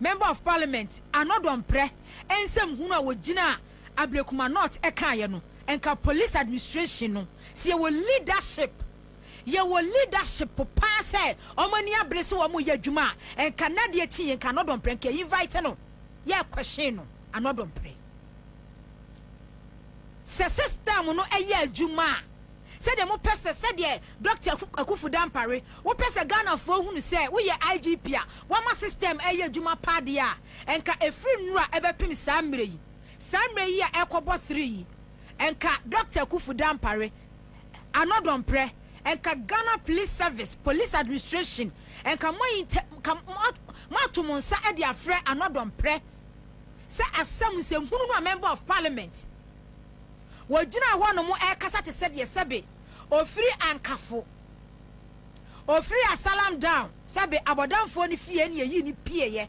Member of Parliament Anordon Mprɛ nsɛm hunu a wɔgyinaa Ablekuma North kaeɛ no, nka Police Administration no, sɛ yɛwɔ leadership, yɛwɔ leadership paa sɛ wɔn ani abere sɛ wɔreyɛ adwuma a, nka nnɛ adeɛ kyi yi, nka Anordon Mprɛ nka yɛ invite no. yɛɛ question no anɔdɔ mpere. Sɛ system no ɛyɛ adwuma a, sɛdeɛ mo pɛ sɛ, sɛdeɛ Doctor Akuffo Dampare, wo pɛ sɛ Ghana foɔ hunu sɛ wo yɛ IGP a wama system ɛyɛ adwuma paa deɛ a, nka ɛfiri nnura ɛbɛpem saa mmerɛ yi, saa mmerɛ yi a ɛrekɔbɔ three yi, nka Doctor Akuffo Dampare, ano dɔmprɛ nka Ghana Police Service, Police Administration, nka moayi ntɛ nka moato mo nsa de afrɛ ano dɔmprɛ sɛ asɛm nsɛmhunu no a Member of Parliament wɔgyina hɔ nom ɛrekasa te sɛ deɛ sɛbe ɔfiri Ankafo, ɔfiri Asalam Down, sɛbe Abɔdamfoɔ no fie na yɛyii no pieeɛ,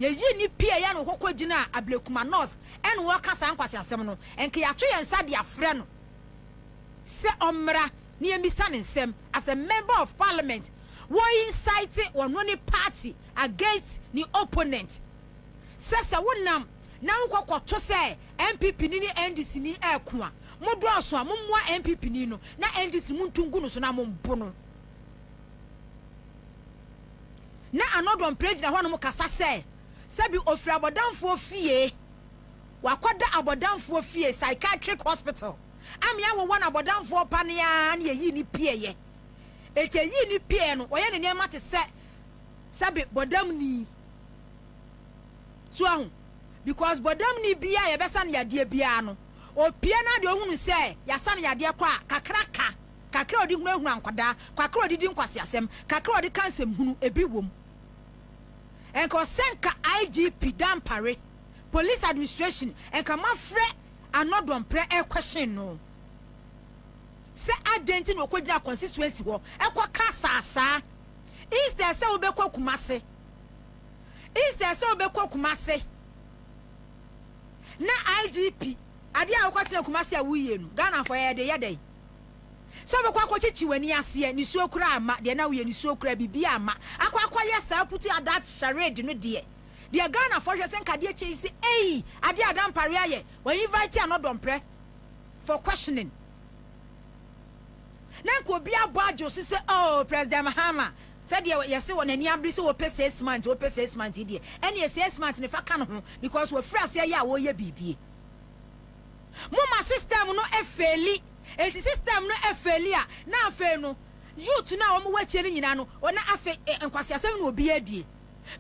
yɛyii no pieeɛ na ɔkɔkɔgyinaa Ablekuma North ɛna ɔreka saa nkwaseasɛm no, nka yɛato yɛn nsa de afrɛ no. sɛ ɔmmra na yɛmmisa no nsɛm as a member of parliament wɔ incite ɔno ne party against ne opponent sɛ sɛ wo nam na wo kɔ kɔ to sɛ NPP ni ne NDC ni ɛko a mo dɔɔso a mo mmoa NPP ni no na NDC mo ntu ngu no so na mo mbo no na anɔdɔn prɛ gyina hɔ nom kasa sɛ sɛbi ofiri abɔdanfoɔ fie. Ɔakɔda abɔdamfoɔ fie, psychiatric hospital, ama yɛawowɔ no abɔdamfoɔ pa no ara na yɛyii no pieeɛ. Enti yɛyii no pieeɛ no, ɔyɛ ne nneɛma te sɛ sɛ be bɔdamni. So woahu? Because bɔdamni biara a yɛbɛsa no yadeɛ biara no, ɔpue no ara deɛ ɔhunu sɛ yɛasa no yadeɛ kɔ a, kakra ka, kakra a ɔde hunahuna nkwadaa, kakra a ɔde di nkwaseasɛm, kakra a ɔde ka nsɛmhunu, ebi wom. Ɛnka ɔsɛ nka IGP Dampare police administration nka moafrɛ Anordon prɛ ɛrekɔhyen no sɛ adɛn nti na ɔkɔgyina constituency hɔ ɛkɔka saasaa instead sɛ wobɛkɔ Kumase instead sɛ wobɛkɔ Kumase na IGP adeɛ a wokɔtena Kumase a woyie no Ghana fɔ yɛde yɛ dɛn sɛ wobɛkɔ akɔkyekye w'ani aseɛ nisuo koraa ama deɛ na woyɛ nisuo koraa biribi ama akɔ akɔyɛ saa puti adat charade no deɛ Deɛ Ghana foɔ hwɛ sɛ nka adeɛ kyɛ yi sɛ ei adeɛ a Dampare ayɛ wa invite Ano Dɔmprɛ for questioning na nka obi abɔ adwo so sɛ oh President Mahama sɛdeɛ yɛse wɔn ani abere sɛ wɔpɛ six months wɔpɛ six months yi deɛ ɛneɛ six months ne fa ka ne ho because wɔfiri aseɛ yɛ a wɔyɛ biribie moma system no ɛfeeli enti system no ɛfeeli a na afei no youth no a wɔn wɔ akyire no nyinaa no wɔn afei nkwaseasɛm na obi adie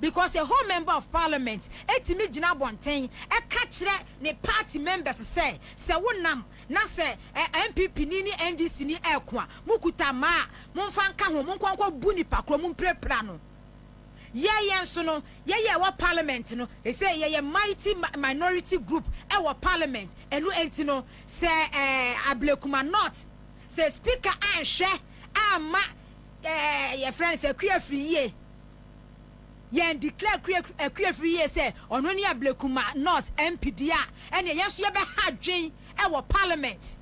because a whole member of parliament tumi gyina abɔnten ka kyerɛ ne party members sɛ sɛ wo nam na sɛ NPP ni ne NDC ni ɛko a mo kuta mmaa a momfa nka ho monkɔ nkɔ bu nipa korɔ mompirapira no yɛ yɛn nso no yɛ yɛ wɔ parliament no ɛsɛ yɛ yɛ mighty minority group ɛwɔ parliament ɛno ɛnti no sɛ ɛɛ Ablekuma not sɛ speaker anhwɛ amma Ɛɛ yɛfrɛ no sɛ Kuafiriyie. Yɛn declare Kua Kuafiriyie sɛ ɔno ne Ablekuma North MP deɛ a, ɛneɛ yɛn nso yɛbɛha adwen wɔ parliament.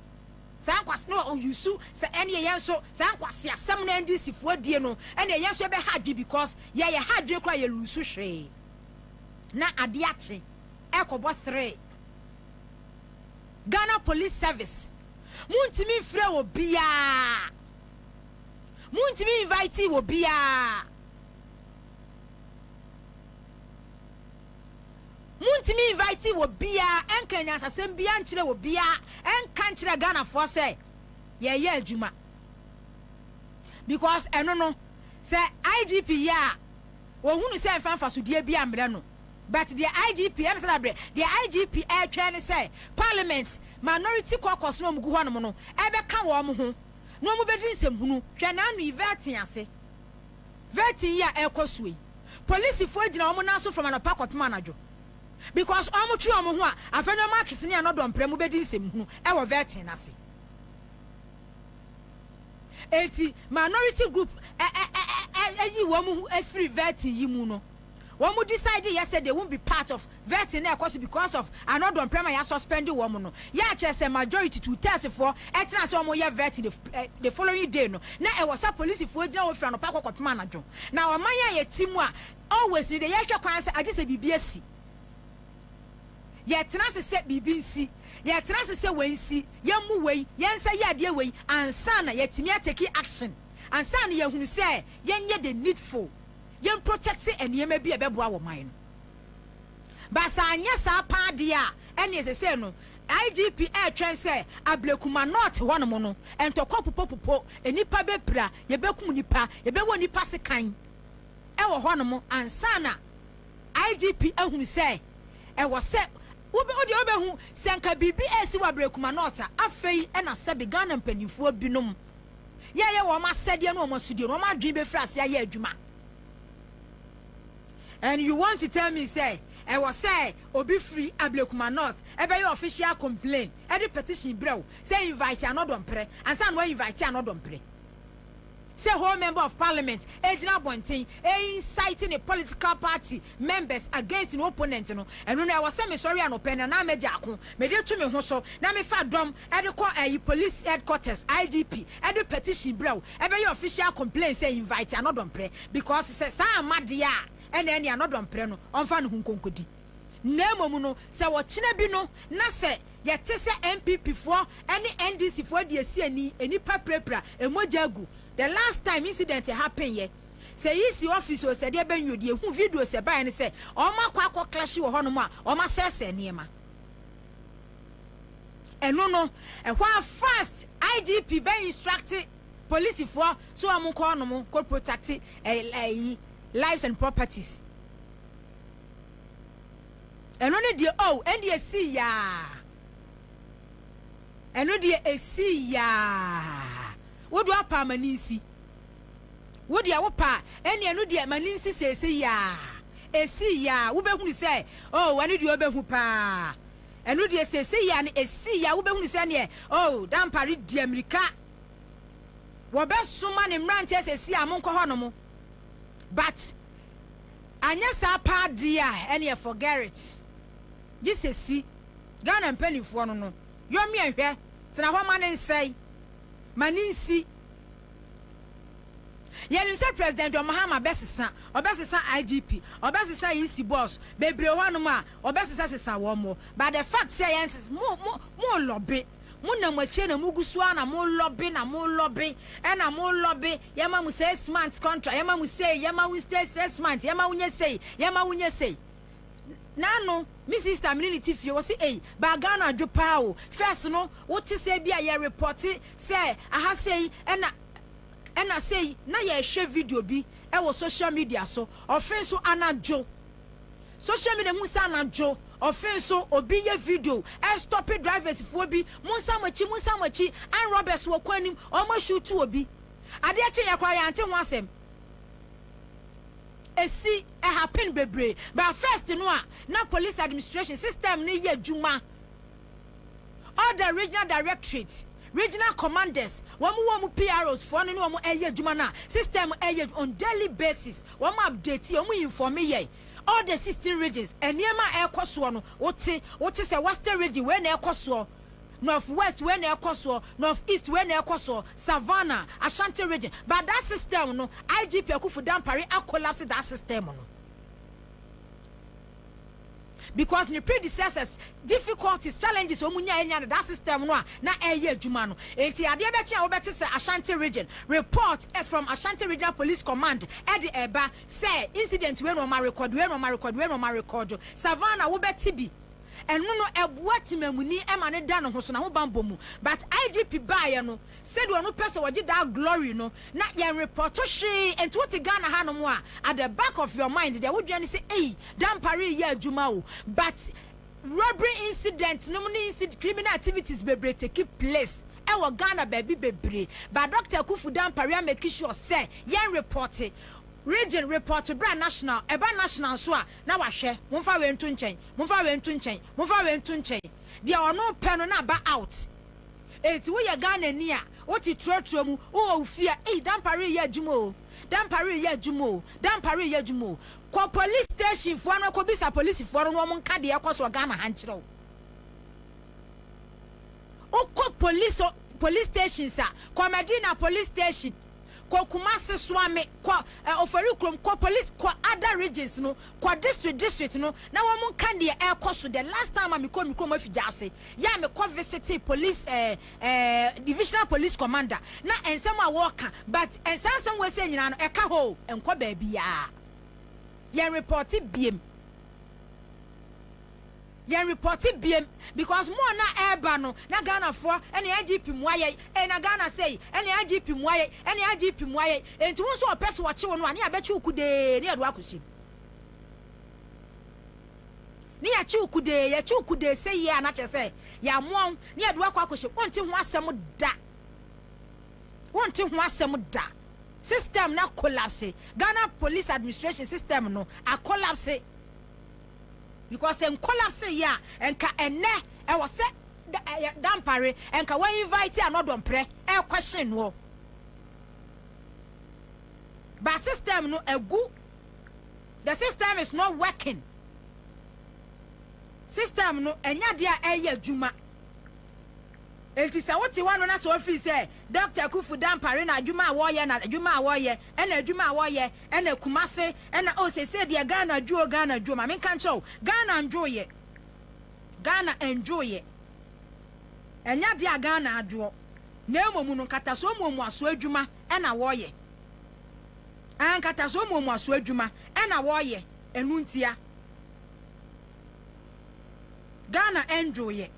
Saa nkwas na ɔ use sɛ ɛneɛ yɛn nso saa nkwaseasɛm no NDC foɔ die no ɛneɛ yɛn nso yɛbɛha adwen because yɛ yɛha adwen koraa yɛ lose hwee. Na adeɛ akye ɛrekɔbɔ three. Ghana Police Service montumi mfrɛ obiara. Muntumi invitee obiara. Muntumi invitee obiara ɛnka nyansasɛm biara nkyerɛ obiara ɛnka nkyerɛ Ghanafoɔ sɛ yɛreyɛ adwuma. Because ɛno no sɛ IGP yɛ a ɔhunu sɛ ɛmfa mfasodeɛ biara mmrɛ no. But deɛ IGP ɛm sɛ dabrɛ deɛ IGP ɛretwɛn ne sɛ Parliament minority caucus no a wɔgu hɔnom no ɛbɛka wɔn ho. na ɔmo bɛdi nsɛmhunu. Hwɛ n'ano yi, vetting ase. Vetting yi a ɛrekɔ soɔ yi, polisifoɔ gyina ɔmo nan so from anɔpa kɔpem anadwo because ɔmo twe ɔmo ho a, afei na ɔmo akese ne ano dɔ mprɛ mo bɛdi nsɛmhunu ɛwɔ vetting no ase. Enti minority group ɛ ɛ ɛ ɛ ɛyi wɔn ho ɛfiri vetting yi mu no. wɔn decide yɛ sɛ they won't be part of vetting na ɛkɔ so because of ano dɔnprɛm a yasuspend wɔn no yɛ akyerɛ sɛ majority two thirds foɔ ɛtena ase wɔn yɛ vetting the, eh, the following day no na ɛwɔ sɛ polisifoɔ gyina hɔ firi anɔpa kɔ kɔpem anadwo na ɔman a yɛte mu a always ne deɛ yɛhwɛ kwan sɛ agye sɛ biribi asi yɛtena ase sɛ biribi nsi yɛtena ase sɛ wei nsi yɛmmu wei yɛnsa yɛ adeɛ wei ansa na yɛatumi atake action ansa na yɛahunu sɛ yɛnyɛ the needful yɛn protect nneɛma bi a ɛbɛboa wɔ man no ba saa anyɛ saa paa deɛ a ɛneɛ sɛsɛ no IGP ɛretwɛn sɛ Ablekuma North hɔ nom no ntɔkwa pupopupo nnipa bɛpira yɛbɛkum nnipa yɛbɛwɔ nnipa sekan ɛwɔ hɔ nom ansa na IGP ahunu sɛ ɛwɔ sɛ wobe wodeɛ wobɛhu sɛ nka biribi ɛresi wɔ Ablekuma North a afei ɛna sɛbe Ghana mpanimfoɔ binom yɛyɛ wɔn asɛdeɛ ne wɔn asodie no wɔn adwene bɛfiri ase ayɛ adwuma and you want to tell me sɛ ɛwɔ sɛ obi firi ablekuma north ɛbɛyɛ official complain ɛde petition brɛ wo sɛ invite anɔdɔmprɛ ansa na wa invite anɔdɔmprɛ sɛ whole member of parliament ɛgyina abɔnten ɛinsite ne political party members against ne opponent no ɛno no ɛwɔ sɛ mesɔre anɔpɛ na na mɛgya ako mede to me ho so na mefa dɔm de kɔ ɛyi police headquarters IGP de petition brɛ wo ɛbɛyɛ official complain sɛ invite anɔdɔmprɛ because sɛ saa amma deɛ a ɛna ɛne anɔdɔmprɛ no ɔmfa ne ho nkonkodi na mmom no sɛ ɔkyena bi no na sɛ yɛte sɛ NPP foɔ ne NDC foɔ deɛ si ani nnipa pirapira mmogya agu the last time incident happen yɛ sɛ EC office o sɛ deɛ bɛn o deɛ hu videos ɛbaeɛ no sɛ ɔmakɔ akɔ clash wɔ hɔnom a ɔmasɛɛsɛɛ nneɛma. Eno no ɛhɔ a first IGP bɛ instructe polisifoɔ sɛ wɔn nkɔ hɔ nom kɔ protacte ɛyi lives and properties. Eno no deɛ oh ɛndeɛ ɛsii yaa. Eno deɛ ɛsii yaa. Wodo apaa ma ninsi. Wo deɛ wo pɛ a, ɛnneɛ ɛno deɛ ma no nsi seesei ara. Ɛsii yi ara, wobɛhunu sɛ, oh, ɛno deɛ ɔbɛhu pa ara. Ɛno deɛ seesei ara no, ɛsii yi ara, wobɛhunu sɛ ɛnneɛ, oh, Dampare di ammirika. Wɔbɛsoma ne mmeranteɛ seesei ara, monkɔ hɔnom. But, anyɛ saa pa ara deɛ a, ɛnneɛ forget it. Gye sɛ si Ghana mpanimfoɔ no no yɔmmyɛ nhwɛ, tena hɔ ma no nsɛe, ma no nsi. Yɛnim sɛ President John Mahama bɛsesa, ɔbɛsesa IGP, ɔbɛsesa EC boss bebree wɔ hɔnom a ɔbɛsesasesa wɔn mo, but the fact sɛ yɛn nsesa, mo, mo, mo lɔbe, mo nam akyire na mo gu so ara na mo lɔbe na mo lɔbe ɛna mo lɔbe, yɛma mo six months contract, yɛma mo sei, yɛma wo stay six months, yɛma wo nyɛ sei, yɛma wo nyɛ sei. N'ano me sister me ne no te fie wɔse ei baa Ghana adwo paa o first no wote sɛ bi a yɛ repɔte sɛ aha sei ɛna ɛna sei na yɛhwɛ video bi ɛwɔ social media so ɔfe nso anadwo social media hu sɛ anadwo ɔfe nso obi yɛ video ɛstɔpe drivers foɔ bi monsa mo akyi monsa mo akyi an robbers wɔ kwan nim ɔmo ashutu obi adeɛ kye yɛ koraa yɛante ho asɛm esi happen bebree but first no a na police administration system no yɛ adwuma all the regional directorate regional commanders wɔn wɔ wɔn PROs foɔ no ne wɔn ɛyɛ adwuma no a system ɛyɛ on daily basis wɔn update yɛ wɔn inform yɛ all the sixteen regions nneɛma a ɛkɔ soɔ no wote wote sɛ western region wei na ɛkɔ soɔ North West wei na ɛkɔ soɔ, North East wei na ɛkɔ soɔ, Savannah, Ashanti region, but that system no IGP Akuffo Dampare a collapse that system no because ne predecessors difficulties, challenges wɔn nyaa nyaa no that system no a na ɛyɛ adwuma no nti adeɛ bɛkye a wobɛte sɛ Ashanti region report eh, from Ashanti regional police command ɛde eh, ɛba sɛ incident wei na wɔn arekɔdo wei na wɔn arekɔdo wei na wɔn arekɔdo Savannah wobɛte bi. Ɛno no ɛboa temamuni ma no da ne ho so, n'ahobanbɔ mu. But IGP baeɛ no, sɛdeɛ ɔno pɛ sɛ ɔgye daa glory no, na yɛn repɔto hwee. Ɛnti wote Ghana hanom a, at the back of your mind deɛ wodwene ne sɛ ei, Dampare reyɛ adwuma o. But robbery incident nom ne inci, criminal activities bebree take place wɔ Ghana baabi bebree. But Doctor Akuffo Dampare a make sure sɛ yɛn repɔte, region repɔte berɛ a national, ɛba national nso a, na wahwɛ, momfa wei nto nkyɛn, momfa wei nto nkyɛn, momfa wei nto nkyɛn, deɛ ɔno pɛ no na aba out. Enti woyɛ Ghanani a, wote trotro mu, wowɔ wo fie a, ei, damper reyɛ adwuma o, damper reyɛ adwuma o, damper reyɛ adwuma o. Kɔ police station foɔ no kɔbisa polisifoɔ no na wɔn nka deɛ ɛrekɔ soɔ Ghana ha nkyerɛ wo. Wokɔ police, police stations a, kɔ Medina police station. kɔ Kumasi, Suame, kɔ eh, Ofori kurom, kɔ police, kɔ other regions no, kɔ district district no na wɔn nka deɛ ɛrekɔ so. The last time a mekɔ me kurom afi gyaase yɛ a mekɔ visitee police eh, eh, divisional police commander na nsɛm a wɔreka but nsaa nsɛm wei sɛ nyinaa no ɛka hɔ o, ɛnkɔ baabiara. Yɛn repɔte biem. Yɛn repɔte biem because mo a na ɛreba no na Ghana foɔ ɛne IGP mua yɛn ee na Ghana sei ɛne IGP mua yɛn ɛne IGP mua yɛn enti wo nso ɔpɛ sɛ ɔkye wo no a ne yɛabɛkye wo kudee ne yɛde wo akɔ hyɛm ne yɛakye wo kudee yɛkye wo kudee seyie a na kyerɛ sɛ yɛamoa wo ne yɛde wo akɔ akɔ hyɛm wonte ho asɛm da wonte ho asɛm da system na collapse Ghana police administration system no a collapse. Because sɛ nkolapse yɛ a nka ɛnnɛ ɛwɔ sɛ Dampare nka wa invite a na ɔdɔ mprɛ ɛɛquestion noɔ. But system no agu. The system is not working. System no ɛnyɛ adeɛ a ɛyɛ adwuma. Enti sɛ wote hɔ no na sɛ ofiri sɛ Dɔkta Akuffo Dampare na adwuma a wɔyɛ na adwuma a wɔyɛ ɛna adwuma a wɔyɛ ɛna Kumase ɛna oh sesei deɛ Ghana dwo oh Ghana dwo ma menka nkyerɛ wo Ghana ndwoeɛ Ghana ndwoeɛ ɛnyɛ adeɛ a Ghana adwoɔ na mmom no nkatasoɔ muomuasoɔ adwuma ɛna wɔyɛ ah nkatasoɔ muomuasoɔ adwuma ɛna wɔyɛ ɛno ntia Ghana ndwoeɛ.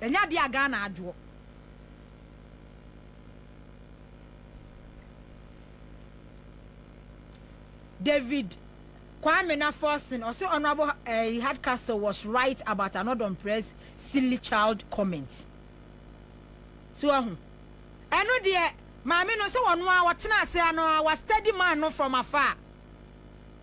Ɛnyɛ adeɛ a Ghana adwoɔ. David Kwame Naforson ɔsɛ Honourable eh, Hardcastle was right about Anodom Press silly child comment. So ahu. Ɛno deɛ maame no sɛ wɔn a wɔtena ase ano a wɔastudy man no from afar.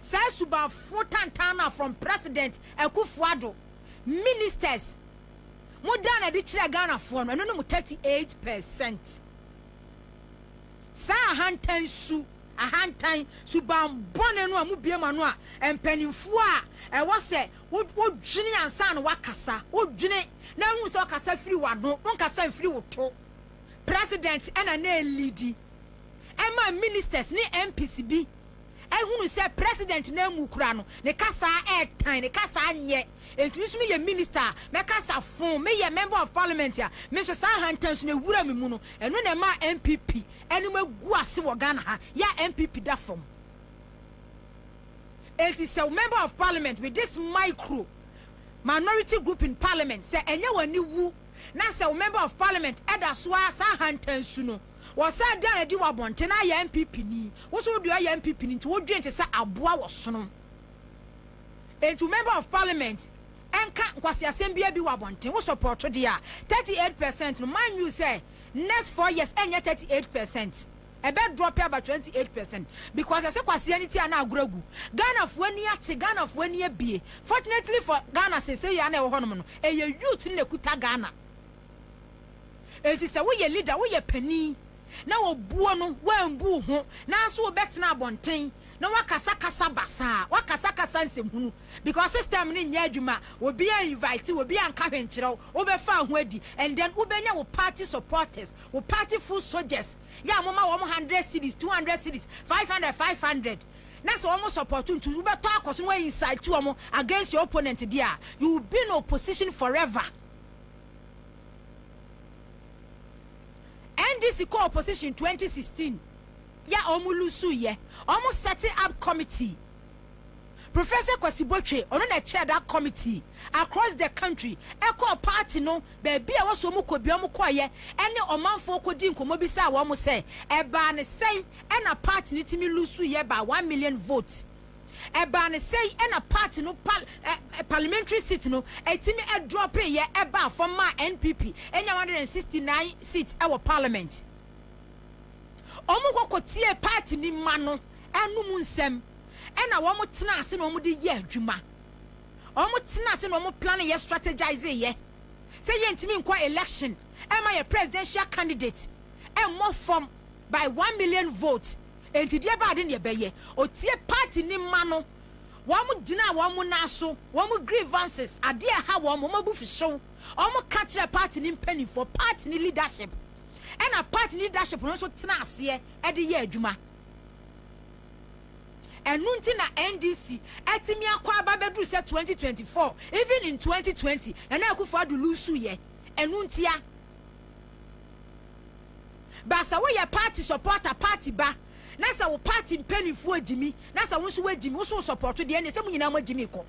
saa suban foforo tantan no a from President Akuffo Addo, Ministers, mo daa no adi kyerɛɛ Ghanafoɔ no, ɛno ne mo 38 percent. Saa ahantan su, ahantan, suban bɔne no a mo bue mo ano a mpaninfoɔ a ɛwɔ sɛ wo dwene ansa na woakasa, wo dwene na ahu sɛ ɔkasa firi w'ano, wo nkasa mfiri wo to. President ɛna na ɛliidi ɛma Ministers ne MPs bi ahunu sɛ president no amu koraa no, ne kasaa ɛɛtan, ne kasaa nyɛ, enti me nso meyɛ minister a, mɛkasa foo, meyɛ member of parliament a, me nso saa ahantansu no awura me mu no, ɛno na ɛmaa NPP anim agu ase wɔ Ghana ha, yɛ a NPP da fam. Enti sɛ wo member of parliament with this micro minority group in parliament, sɛ ɛnyɛ w'ani wu, na sɛ wo member of parliament ɛda so ara saa ahantansu no, Wɔsɛɛ da a adi wɔ abɔnten na ayɛ NPP ni. Wo nso wo deɛ ɔyɛ NPP ni nti wo dwen te sɛ aboa wɔ sono. Nti wo member of parliament nka nkwaseasɛm biara bi wɔ abɔnten. Wo support deɛ a 38 percent no mind you sɛ next four years ɛnyɛ 38 percent. Ɛbɛ drop aba 28 percent because ɛsɛ kwasea no ti a na agorɔ agu. Ghana foɔ ani ate, Ghana foɔ ani abie. Fortunately for Ghana seisei a na ɛwɔ hɔ nom no ɛyɛ youth no na ɛkuta Ghana. Enti sɛ woyɛ leader, woyɛ panin, na wɔbuo no, woambu wo ho, nanso wobɛtena abɔnten na woakasakasa basaa, woakasakasa nsɛmhunu, because system no nyɛ adwuma, obiara annyvite wo, obiara anka hwee nkyerɛ wo, wobɛfaa ho adi, and then wobɛnya wo party supporters, wo party foot soldiers, yɛ a moma wɔn hundred cedis, two hundred cedis, five hundred, five hundred, na sɛ wɔn support wo nti wobɛtɔ akɔ so na woa incite wɔn against your opponent deɛ a, you will be in opposition forever. NDC kɔ opposition twenty sixteen yɛ a ɔmo lusu yɛ ɔmo sɛte up committee professor Kwasi Botwe ɔno na ɛkyɛɛ da committee across the country ɛkɔɔ party no baabi a wɔsɔ ɔmo kɔ bia ɔmo kɔɔ yɛ ɛne ɔmanfoɔ kɔ di nkɔmɔ bi saa wɔn mo sɛ ɛbaa ne sɛn ɛna party no timi lusu yɛ baa one million vote. Ɛbaa no sɛi na party no pal eh parliamentary seat no ɛtumi ɛdrɔpee yɛ ɛbaa fam maa NPP ɛnya 169 seats ɛwɔ parliament. Wɔn kɔ kɔ tiee party ni mma no ɛnom nsɛm ɛna wɔn tenaa ase na wɔn de yɛɛ adwuma. Wɔn tenaa ase na wɔn plane yɛ strategizee yɛ sɛ yɛntumi nkɔ election ɛma yɛ presidential candidate ɛmmɔ fam by one million vote Enti deɛ ɛbaa de neɛ ɛbɛyɛ, ɔtie party no mma no, wɔn gyinaa wɔn nan aso, wɔn grievances, adeɛ a ɛha wɔn, wɔn abufuhyew, wɔn ka kyerɛɛ party no mpaninfoɔ, party no leadership, ɛna party no leadership no nso tenaa aseɛ de yɛɛ adwuma. Ɛno nti na NDC atumi akɔ aba bɛduru sɛ 2024, even in 2020, Nana Akufo-Addo loosuiɛ, ɛno ntia. But sɛ woyɛ party supporter, party ba, na sɛ wo party mpaninfoɔ gyimi, na sɛ wo nso woagyimi, wo nso wo supporto deɛ ɛneɛ sɛ mo nyinaa moagyimi kɔ.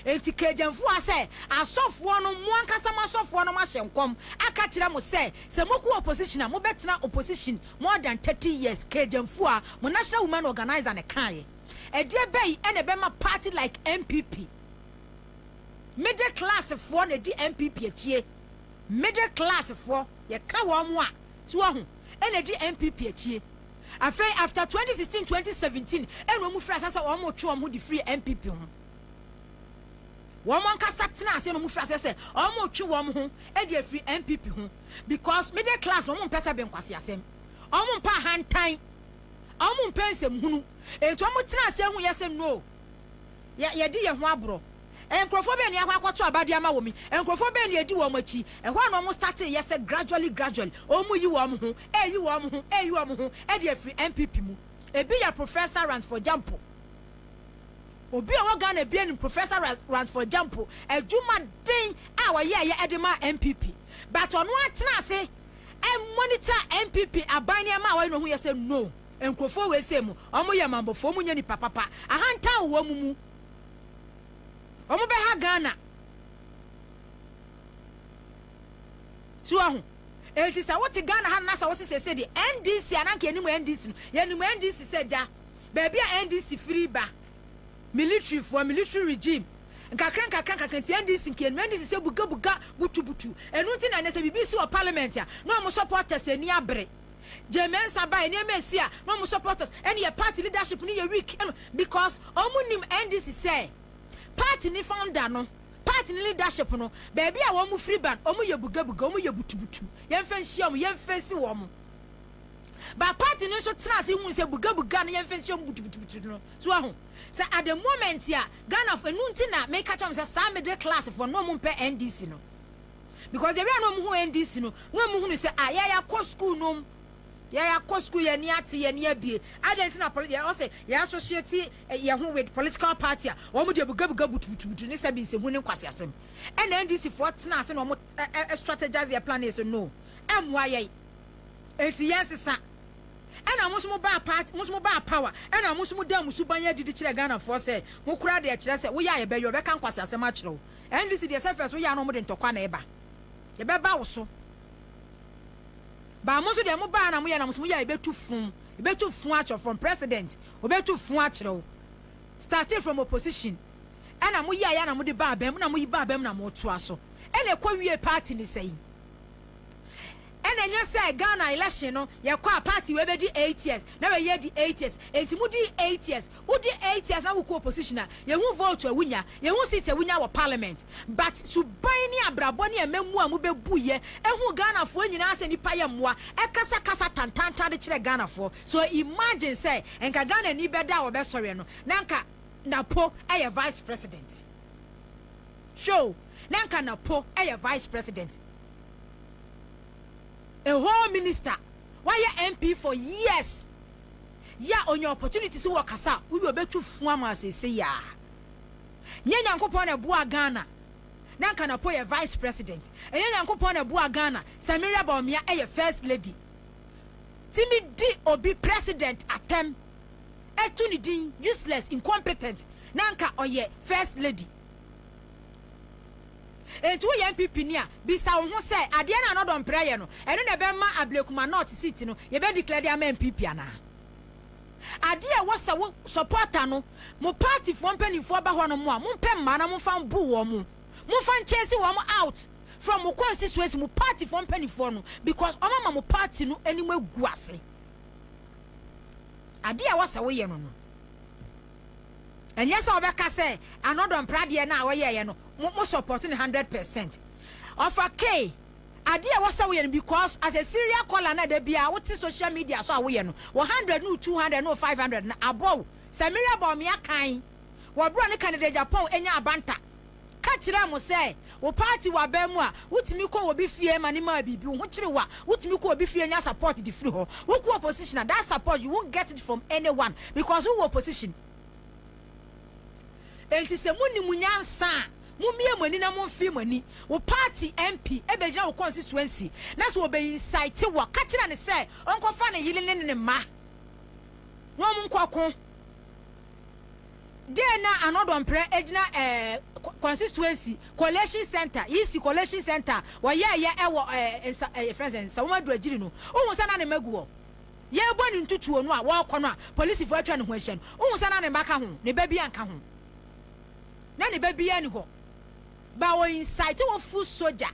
Enti Cajunfoɔ asɛ asɔfoɔ no, mo ankasa mo asɔfoɔ no moahyɛ nkɔm aka kyerɛ mo sɛ, sɛ mokɔ opposition a, mobɛtena opposition more than 30 years, Cajunfoɔ a mo national woman organiser no kaeɛ. Ɛdeɛ bɛn na ɛbɛma party like NPP, middle class foɔ na ɛdi NPP akyie, Middle class foɔ yɛka wɔn a so wahu ɛna di NPP akyie afei after twenty sixteen twenty seventeen ɛna wɔn firi aseɛ sɛ wɔn retwe wɔn ho de firi NPP ho wɔn ankasa tena aseɛ na wɔn firi aseɛ sɛ wɔn retwe wɔn ho de afiri NPP ho because middle class na wɔn mpɛ sɛ bɛnkwasi asɛm wɔn mpɛ ahantan wɔn mpɛ nsɛm hunu eti wɔn tena aseɛ ho yɛ sɛ no. Yɛ, yɛadi yɛn ho aborɔ. Nkurɔfoɔ bɛn na yɛakɔ akɔto aba de ama wɔn yi? Nkurɔfoɔ bɛn na yɛdi wɔn akyi? Ɛhɔ ara na wɔn startee yɛ sɛ gradually, gradually, wɔn reyi wɔn ho, reyi wɔn ho, reyi wɔn ho de afiri NPP mu. Ebi yɛ Professor Ransford Gyampo. Obi a ɔwɔ Ghana biara nim Professor Ras, Ransford Gyampo adwumaden a ɔyɛeɛ de maa NPP. But ɔno ara tenaa ase monitor NPP aban nneɛma a ɔyɛ no ɔhuiɛ sɛ no, Nkurɔfoɔ wei sei mu, wɔn yɛ mambofoɔ, wɔn nyɛ nipa papa, ahantan wɔ wɔn mu, wɔn bɛ ha Ghana. So wahu? Enti sɛ wote Ghana ha no na sɛ wose sese deɛ NDC a na nka yɛnim NDC no, yɛnim NDC sɛ gya, baabi a NDC firi ba, military foɔ, military regime, nkakra nkakra nkakra nti NDC nka yɛnim NDC sɛ buga buga, butu butu, ɛno nti na ɛnɛ sɛ biribi si wɔ parliament a na wɔn supporters ani abere. Gyee Mensah bae, nneɛma a ɛsii a na wɔn supporters ne yɛn party leadership no yɛ weak no because wɔn nim NDC sɛ party no founder no, party no leadership no, baabi a wɔn firi ba no, wɔn yɛ bugabuga, wɔn yɛ butubutu, yɛmfa nhyia wɔn, yɛmfɛsi wɔn. But party no nso tena ase hui sɛ bugabuga no yɛmfa nhyia wɔn butubutubutu no. So wahu? Sɛ at the moment a Ghana fo, ɛno nti na meka kyerɛ wɔn sɛ saa middle class fo no, na wɔn mpɛ NDC no. because ebi a na wɔn ho NDC no na wɔn hunu sɛ ah yɛyɛ akɔ school nom yɛyɛ akɔ school yɛn ani ate yɛn ani abie adan ti na pɔliti yɛ ɔsɛ yɛ associate eh, yɛn ho with political party a wɔn deɛ bugabuga butubutubutu ne sɛbi nsɛhu ne nkwasi asɛm ɛna NDC foɔ tena ase na wɔn ɛ ɛ strategize yɛ plan yɛ so no ɛmoa yɛ eti yɛn sesa ɛna mo nso mo baa party mo nso mo baa power ɛna mo nso mo dan mo suban yɛ adidi kyerɛ Ghana foɔ sɛ mo kura deɛ kyerɛ sɛ woyɛ a yɛbɛyɛ ɔbɛka nkwasi asɛm akyerɛ wo. NDC deɛ sɛ fɛs woyɛ a na ɔmo de ntɔkwa na ɛba ɛbɛba wo so baa mo nso deɛ mo baa na mo yɛ na mo so mo yɛ a ɛbɛtu fun ɛbɛtu fun akyerɛ from president ɔbɛtu fun akyerɛ wo starting from opposition ɛna mo yɛ a yɛ na mo de baa bɛm na mo yi baa bɛm na mo to aso ɛna ɛkɔ wie party ne sɛ yi ɛna ɛnyɛ sɛ Ghana election no yɛkɔ a party wei bɛdi eight years na wei yɛ di eight years ɛnti mo di eight years Wo di eight years na wo kɔ opposition a, yɛ hu vote a wo nya, yɛ hu seat a wo nya wɔ parliament, but suban ne abrabɔ ne ɛmamu a mo bɛ bu yɛ, ɛhu Ghana foɔ nyinaa sɛ nipa yɛ mmoa, ɛkasa kasa tantantan de kyerɛ Ghana foɔ. So imagine sɛ nka Ghana ni bɛ da a ɔbɛ sɔreɛ no na nka Napo ɛyɛ vice president. Hwɛ o, na nka Napo ɛyɛ vice president. A whole minister, wa yɛ MP for years. yɛ a onya opportunity sɛ ɔkasa a wowie ɔbɛtu fo ama wo seesei ara. Nyɛ Nyankopɔn na ɛboaa Ghana na anka Napo yɛ Vice President. Ɛnyɛ Nyankopɔn na ɛboaa Ghana sɛ Miriam Bawumia ɛyɛ First Lady. Tumi di obi President atɛm ɛtu ne din useless, incompetent na anka ɔyɛ First Lady. Enti woyɛ NPP ni a, bisa wo ho sɛ, adeɛ no a Nordon Mprɛ yɛ no, ɛno na ɛbɛma Ablekuma North seat no, yɛbɛ declare de ama NPP anaa? Adeɛ a ɛwɔ sɛ wo supporter no, mo party foɔ mpaninfoɔ ba hɔnom a, mompɛ mmaa na momfa mbo wɔn. Momfa nchase wɔn out from mo constituency, mo party foɔ mpaninfoɔ no, because wɔn ama mo party no anim agu ase. Adeɛ a ɛwɔ sɛ woyɛ no no. Ɛnyɛ sɛ ɔbɛka sɛ anɔdɔ mpra adeɛ no a ɔyɛeɛ no mo mo support no hundred percent. Ɔfa Kay, adeɛ a ɛwɔ sɛ woyɛ no because as a serial caller no a da biara wote social media so a woyɛ no, wo hundred ne wo two hundred ne wo five hundred no abɔ wo. Sɛ Miriam Bawumia kan wɔ berɛ a ɔne Kennedy Agyapong nyaa banter. ka kyerɛɛ mo sɛ wo party wɔ aban mu a, wotumi kɔ obi fie ma no maa biribi, wo ho kyere wo a, wotumi kɔ obi fie nya support de firi hɔ, wokɔ opposition a, that support you won't get it from anyone because wowɔ opposition. Enti sɛ monim nyansa a, mommie mo ani na momfee mo ani. Wo party MP bɛgyina wo constituency na sɛ ɔbɛ incite wo a, ka kyerɛ no sɛ ɔnkɔfa ne yere ne ne mma na wɔnkɔko. Dɛ na Anɔdɔmprɛ egyina ɛɛ Constituency Collation Centre, Yisi Collation Centre a wɔyɛɛyɛ ɛwɔ ɛɛ Nsa ɛɛ yɛfrɛ no sɛn Nsawom Adu Agyiri no, wohu sɛ na ne mba gu hɔ. Yɛɛbɔ no ntutuo no a wɔɔkɔ no a polisifo atwa ne ho ahyia no, wohu sɛ na ne mba ka ho, ne ba bia nka ho. Na ne ba bia ni hɔ. But wɔ incite wo foot soldier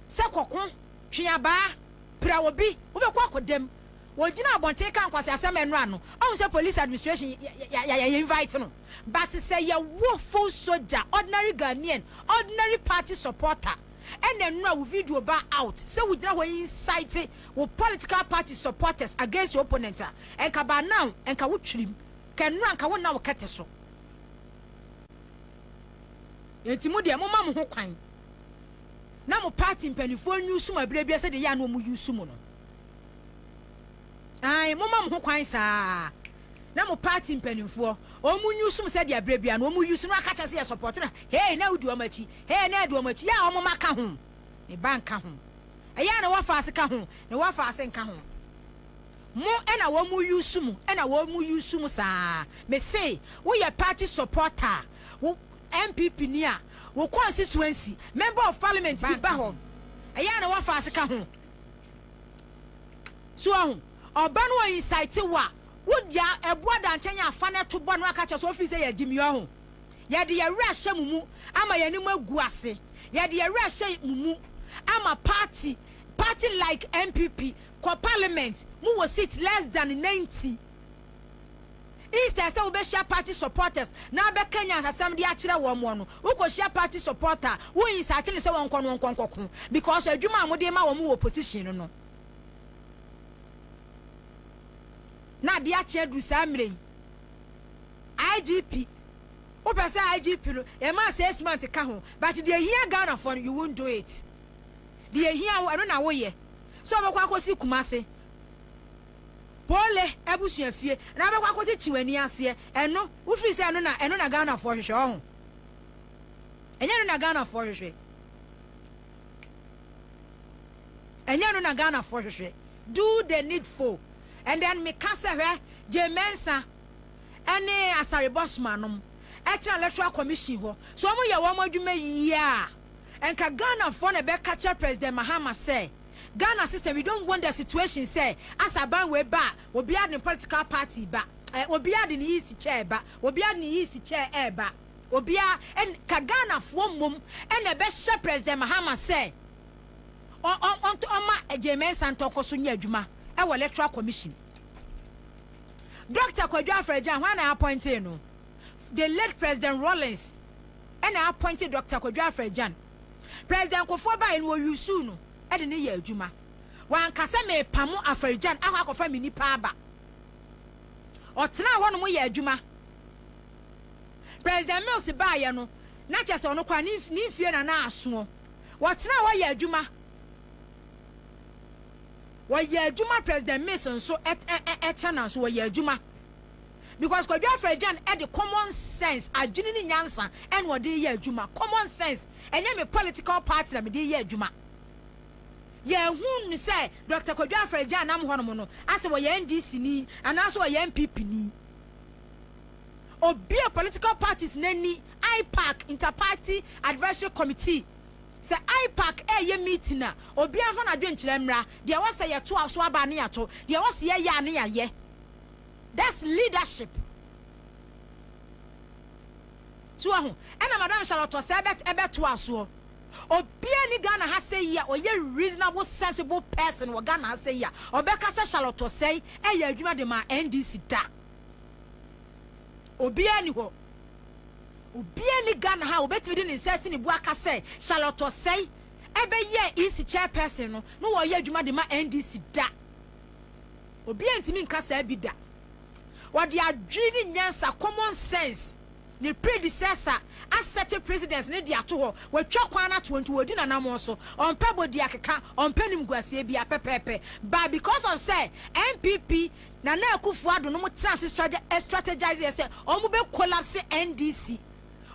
sɛ kɔko, twe abaa, pira obi, wobɛkɔ akɔda mu. Ogyina abɔnten ka nkwaseasɛm ɛno ano ɔhu sɛ police administration yɛ yɛ invite no but sɛ yɛ wo full soja ordinary Ghanaian ordinary party supporter ɛna ɛnora wo video ba out sɛ wo gyina hɔ incite wo political party supporters against your opponent a ɛnka by now ɛnka wo twiri mu ka ɛnora nka wo nna wo kɛtɛ so ɛnti mo deɛ mo ma mo ho kwan na mo party mpaninfoɔ nyi sum abirabira sɛ deɛ yɛ ano ɔmo yi sum no. Ae, momma mo ho kwan saa ara na mo party mpanimfoɔ wɔn use mo sɛdeɛ berɛ biara no wɔn use no aka kyɛ sɛ yɛ support na hee na wodi wɔn akyi hee na ɛdi wɔn akyi yɛ a wɔn mma ka ho ne ba nka ho ɛyɛ a na wɔfa ase ka ho na wɔfa ase nka ho mo ɛna wɔn use mo ɛna wɔn use mo saa me se woyɛ party supporter wo MPP ni a wo constituency member of parliament bi ba hɔ ɛyɛ a na wɔfa ase ka ho So wahu? Ɔba no incite wo a, wode a, ɛboa da nkyɛn a fa no ɛto bɔ no aka kyerɛ sɛ ɔfiri sɛ yɛgye me ɔho. Yɛde yɛn werɛ ahyɛ mo mu ama yɛn anim agu ase. Yɛde yɛn werɛ ahyɛ mo mu ama party, party like NPP, kɔ parliament, mo wɔ seat less than 90. Instead sɛ wobɛhyia party supporters na abɛka nyansasɛm de akyerɛ wɔn moa no, wokohyia party supporter a wo incite no sɛ wɔnkɔ no wɔnkɔ nkɔko because adwuma a mode rema wɔn wɔ opposition no no na ade akye aduru saa mmerɛ yi. IGP, wopɛ sɛ IGP no yɛma assessment ka ho but deɛ ɛhia Ghanafoɔ no you won't do it. Deɛ ɛhia wo ɛno na woyɛ. Sɛ wobɛkɔ akɔsi Kumasi. Pole abusua fie na wobɛkɔ akɔkyekye w'ani aseɛ ɛno wofiri sɛ ɛno na ɛno na Ghanafoɔ hwehwɛ ɔho ɛnyɛ ɛno na Ghanafoɔ hwehwɛ ɛnyɛ ɛno na Ghanafoɔ hwehwɛ do the needful and then meka sɛ hwɛ gye mɛnsa ɛne asare bɔsoma nom ɛtena electoral commission hɔ so wɔn yɛ wɔn adwuma yie a ɛnka Ghanafoɔ na ɛbɛka kyerɛ president Mahama sɛ Ghana system we don't want the situation sɛ as aban wei ba a obiara de ne political party ba eh obiara de ne yeast chair ba obiara de ne yeast chair ɛɛba obiara ɛn ka Ghana foɔ mmom ɛna ɛbɛhyɛ President Mahama sɛ ɔ ɔ ɔnto ɔma Gyei Mensah ntɔ nkɔ so nyɛ adwuma ɛwɔ electoral commission Doctor Kwadwo Afrɛgyan hwan na appointee no the late President Rawlings ɛna appointee Doctor Kwadwo Afrɛgyan President Kufuor baeɛ no wɔ usuu no de no yɛ adwuma. Wanka sɛ mepamo Afarijan akɔ akɔfa me nnipa aba. Ɔtenaa hɔnom yɛ adwuma. President Mills baeɛ no na kyerɛ sɛ ɔno koraa ne ne mfie na na asoɔ. Wɔtenaa hɔ yɛ adwuma. Wɔyɛ adwuma President Mills nso ɛ ɛ ɛ kyɛ na nso wɔyɛ adwuma. because Kwadwo Afragyan de common sense, adwene ne nyansa na ɔde reyɛ adwuma, common sense, ɛnyɛ me political party na mede reyɛ adwuma. Yɛnhu no sɛ Doctor Kwadwo Afragyan nam hɔnom no asɛ ɔyɛ NDC-ni anaasɛ ɔyɛ NPP-ni. Ɔbue political parties no ani, IPAC, Inter-Party Advisory Committee, sɛ IPAC reyɛ meeting a, obiara mfa n'adwenkyerɛ mmra, deɛ ɔsɛ yɛtoa so aba a ne yɛato, deɛ ɔse yɛyɛ a ne yɛayɛ. That's leadership So wahu? Ɛna Madam Charlotte ɔsɛ ɛbɛ ɛbɛto asoɔ. Obiara ni Ghana ha sɛ yi a ɔyɛ reasonable sensible person wɔ Ghana ha sɛ yi a ɔbɛka sɛ Charlotte Osei ɛyɛ adwuma de maa NDC da. Obiara ni hɔ. Obiara ni Ghana ha a obetumi de ne nsa asi ne bo aka sɛ Charlotte Osei ɛbɛyɛɛ EC chairperson no na ɔyɛ adwuma de ma NDC da. Obiara ntumi nka saa bi da. Wɔde adwene ne nyansa, common sense, ne predecessor asɛte president no de ato hɔ. Watwa kwan no ato hɔ nti wɔdi n'anammɔn so. Ɔmpɛ bɔdiakeka, ɔmpɛ animguaseɛ biara pɛpɛɛpɛ. But because of sɛ NPP, Nana Akufo-Addo nom tena ase stra strategiseɛ sɛ wɔbɛ collapse NDC,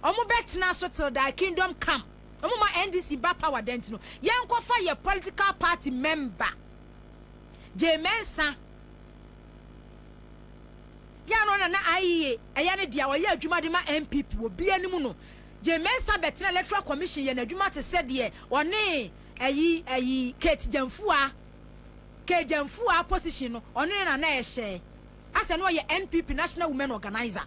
wɔbɛtena so till thy kingdom come, wɔmma NDC mma power da nti no, yɛnkɔfa yɛn political party member. Jay Mensah piano na na IEA ɛyɛ ne dea, ɔyɛ adwuma de ma NPP wɔ bi anim no, Jay Mensah bɛtena Electoral Commission yɛ n'adwuma te sɛ deɛ ɔne ayi ayi Kate Gyamfuaa, Kay Gyamfuaa position no ɔne no na na ɛhyɛ, asɛ na ɔyɛ NPP National Women Organiser.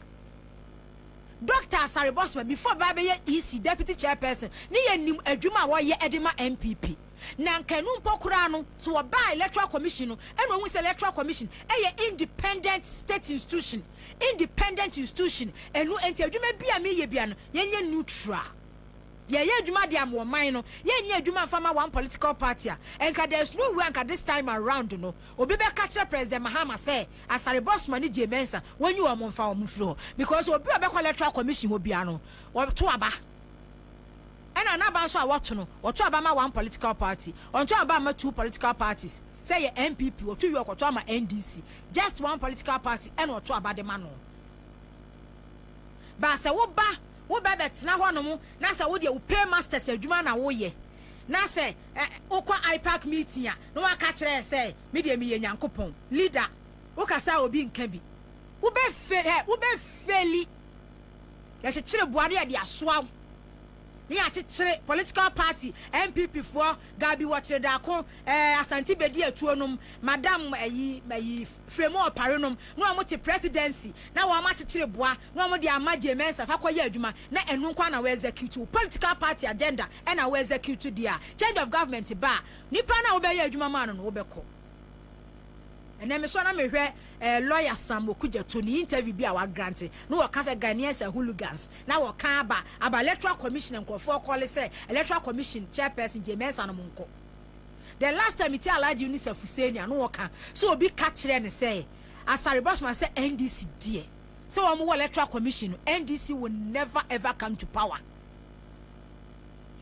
Doctor Asare Bosma before bɛba abɛyɛ EC Deputy Chairperson ne yɛnim adwuma a ɔyɛ de ma NPP. Na anka ɛno mpo koraa no, sɛ wɔbaa Electoral Commission no na wɔhu sɛ Electoral Commission yɛ independent state institution, independent institution, ɛno nti adwuma biara a mereyɛ biara no, yɛnyɛ neutral. Yɛyɛ adwuma de ama ɔman no, yɛnyɛ adwuma mfa mma one political party a. Anka there is no way anka this time around no, obi bɛka akyerɛ President Mahama sɛ Asare Bosman ne Jay Mensah, wɔnyi wɔn mfa wɔn mfiri hɔ. Because obi a ɔbɛkɔ Electoral Commission hɔ biara no, wɔto aba. Ɛna n'aba nso a wɔto no, wɔto aba ma one political party. Wɔnto aba mma two political parties. Sɛ yɛ NPP, wɔto wie a wɔkɔto ama NDC. Just one political party ɛna wɔto aba de ma no. But sɛ woba, wobɛ bɛtena hɔnom na sɛ wo deɛ wo paymasters adwuma na woyɛ, na sɛ ɛ, wokɔ IPAC meeting a, na woaka akyerɛ yɛ sɛ, me deɛ meyɛ Nyankopɔn, leader, wokasa a obi nka bi. Wobɛ fail, hɛ, wobɛ faili. Yɛkyekyere boa na yɛde asoa wo na yɛakyekyere political party NPP foɔ Gabi wɔkyere daako eh Asante bedi atuo nom Madam ayi ayi Fremu Opare nom na wɔn te presidency na wɔn akyekyere boa na wɔn de ama Jay Mensah fa kɔ yɛ adwuma na ɛno nko ara na wo execute wo political party agenda ɛna wo execute deɛ a change of government ba a nipa no a wobɛyɛ adwuma maa no no wobɛkɔ Ɛnɛ me sɔ na me hwɛ eh, lawyer Sam Okudzeto ne interview bi a wa grant na wɔ ka sɛ Ghanaians are hooligans na wɔ ka aba aba electoral commission nkorɔfoɔ kɔle sɛ electoral commission chairperson Jay Mensah nom nkɔ the last time me tie Alhaji Yunis Afuseni a na wɔ ka sɛ obi ka kyerɛ ne sɛ Asare Bossman sɛ NDC deɛ sɛ wɔn wɔ electoral commission no NDC will never ever come to power.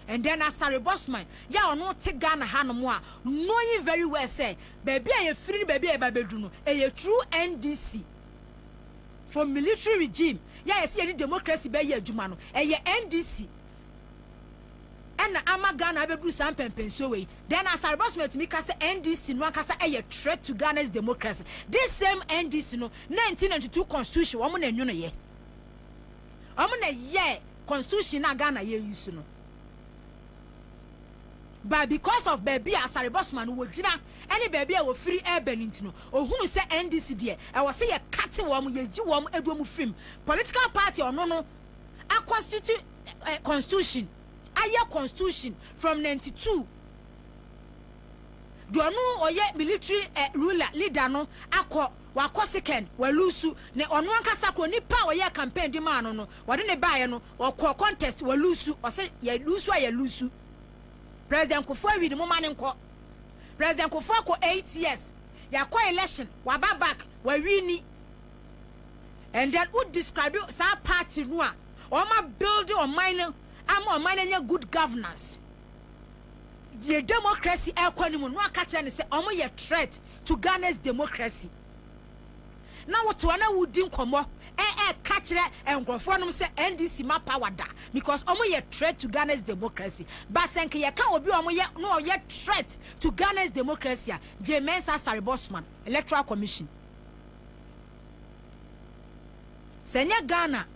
And then Asare Bosman yi a ɔno te Ghana ha nom a knowing very well sɛ baabi a yɛfiri ne baabi a yɛba bɛduru no ɛyɛ through NDC for military regime yi a yɛse yɛde democracy bɛyɛ adwuma no ɛyɛ NDC ɛna ama Ghana abɛduru saa mpɛmpɛnsuo wei then Asare Bosman tumi ka sɛ NDC no ankasa ɛyɛ threat to Ghana's democracy this same NDC no 1992 constitution wɔn na ɛnwonoyɛ. Wɔn na ɛyɛɛ constitution no a Ghana yɛ use no. But because of baabi a Asare Bosman no wɔgyina ne baabi a wɔfiri reba no nti no, ɔhunu sɛ NDC deɛ ɛwɔ sɛ yɛkate wɔn, yɛyi wɔn, ɛdu wɔn firim. Political party a ɔno no a constitute eh, constitution, ayɛ constitution from 92 deɛ ɔno ɔyɛ military eh, ruler leader no akɔ Wakɔ Sekan, Walusu, ne ɔno ankasa koro, nipa a ɔyɛɛ campaign de maa no no, wɔde no baeɛ no, ɔkɔɔ contest, Walusu, ɔse Yalusu a Yalusu. President Kufuor awie no, momma no nkɔ. President Kufuor akɔ eight years, yɛakɔ election, waba back, wawini. And then wo describe saa party no a, wɔn a build ɔman no, ama ɔman no anya good governance. Deɛ democracy ɛrekɔ anim no, na waka kyerɛ no sɛ wɔyɛ threat. to Ghana's democracy. Na wo te hɔ na wodi nkɔmmɔ ɛ ɛ ka kyerɛ nkurɔfoɔ nom sɛ NDC ma power da because wɔn yɛ threat to Ghana's democracy. Ba sɛ nka yɛ ka obi a wɔn yɛ na ɔyɛ threat to Ghana's democracy a, Jane Mensah Asare Bossman, Electoral Commission. Sɛ nyɛ Ghana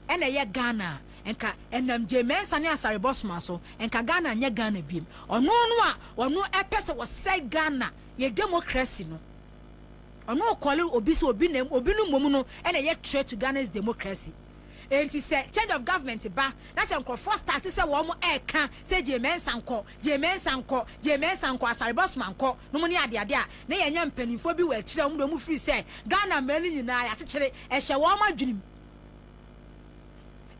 ɛna ɛyɛ Ghana a, nka ɛnam Jane Mensah ne Asare Bossman so, nka Ghana nyɛ Ghana biem. Ɔno no a ɔno ɛpɛ sɛ wɔsɛe Ghana. Yɛ democracy no ɔno ɔkɔle obi sɛ obi na obi no mmom no na ɛyɛ threat to Ghana's democracy enti sɛ change of government ba na sɛ nkurɔfoɔ start sɛ wɔn ɛreka sɛ Gyei Mensah nkɔ, Gyei Mensah nkɔ, Gyei Mensah nkɔ, Asare Bosman nkɔ nom ne adeade a na yɛanya mpaninfoɔ bi wɔ akyire a wɔn deɛ wɔn firi sɛ Ghana mmaa no nyinaa yɛakyekyere ɛhyɛ wɔn adwenem.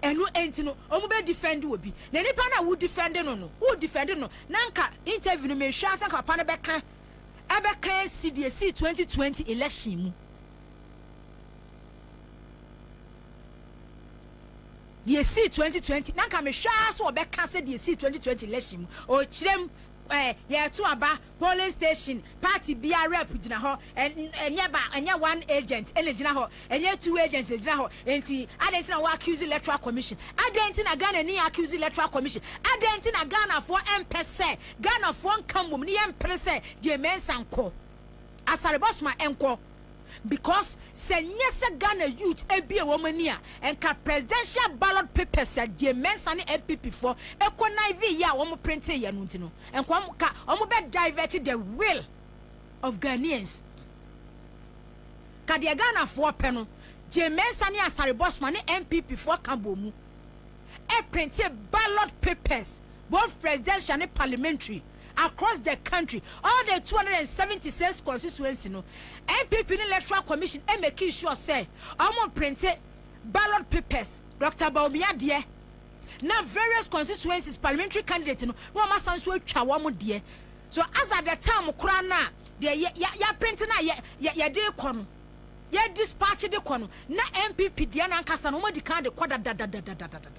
Ɛno nti no ɔmo bɛ defend obi na nipa no a wo defend no no wo defend no na nka interview no mehwɛ ansa nka papa no bɛka ɛbɛka asi deɛ esii twenty twenty election mu deɛ esii twenty twenty na nka mehwɛ ara sɛ ɔbɛka sɛ deɛ esii twenty twenty election mu ɔkyerɛm ɛɛ yɛto aba Polling station, party biara rep gyina hɔ, ɛnyɛ ba, ɛnyɛ one agent na ɛgyina hɔ, ɛnyɛ two agents na ɛgyina hɔ, ɛnti adɛn nti na wo accuse electoral commission? Adɛn nti na Ghana ni accuse electoral commission? Adɛn nti na Ghanafoɔ ɛmpɛ sɛ Ghanafoɔ nka mmom ne yɛmpere sɛ Gyei Mensah nkɔ? Asare Bosoma nkɔ? because sɛ nyɛ sɛ Ghana youth abue wɔn ani a nka presidential ballot papers a Gyei Mensah ne NPP foɔ connivee yɛ a wɔn printee yɛ no nti no nka wɔn ka wɔn bɛ divert the will of Ghanaians. Ka deɛ Ghanafoɔ pɛ no Gyei Mensah ne Asare Bosman ne NPP foɔ ka bɔ mu ɛprinte ballot papers both presidential ne parliamentary across the country all the two hundred and seventy six constituency no npp ne electoral commission ɛmɛki sure sɛ ɔmo mprinte ballot papers Doctor Bawumia deɛ na various constituencies parliamentary candidate no na ɔmo asan so atwa wɔn deɛ so as at the time koraa no a deɛ yɛ yɛ yɛaprinte no a yɛ yɛ yɛde kɔ no. yɛ dispatch de kɔ no na NPP deɛ no ankasa no wɔn adi kan de kɔ dadadadadadada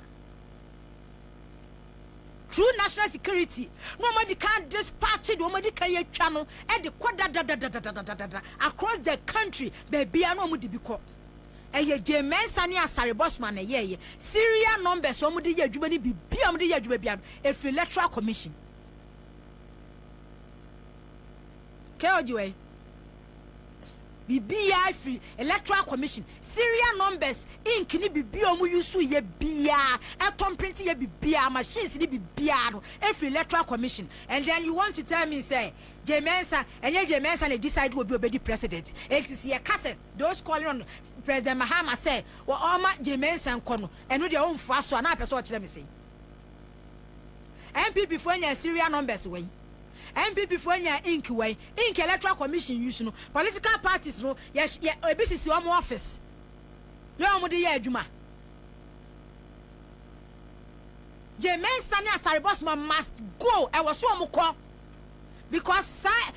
true national security na wɔn adi kan dispatch de wɔn adi kan yɛ twa no de kɔ dadadadadadada across the country beebi a na wɔn de bi kɔ ɛyɛ gye mɛnsa ne asare bɔsoma na ɛyɛ ɛyɛ serial numbers wɔn de yɛ adwuma ne bibi a wɔn de yɛ adwuma bi a efiri electoral commission kɛɛ ɔgye wɔ yi. Biribiara firi Electoral Commission, serial numbers, ink ne biribiara a wɔusuu yɛ biara, ɛtɔ mprinte yɛ biribiara, machines ne biribiara no firi Electoral Commission and then you want to tell me sɛ Jay Mensah, ɛnyɛ Jay Mensah na decide obi a ɔbɛdi President. Enti sɛ yɛka sɛ those calling on President Mahama sɛ ɔmma Jay Mensah nkɔ no, ɛno deɛ womfoa so a, na apɛ sɛ ɔkyerɛ me sɛn? NPP foɔ nyaa serial numbers wai? NPP foɔ nyaa ink wai? Ink electoral commission use no political parties no yɛ yɛ ebi sisi wɔn office yɛ wɔn de yɛ adwuma. Jay Mensah ne Asare Bosman must go ɛwɔ so wɔn kɔ because saa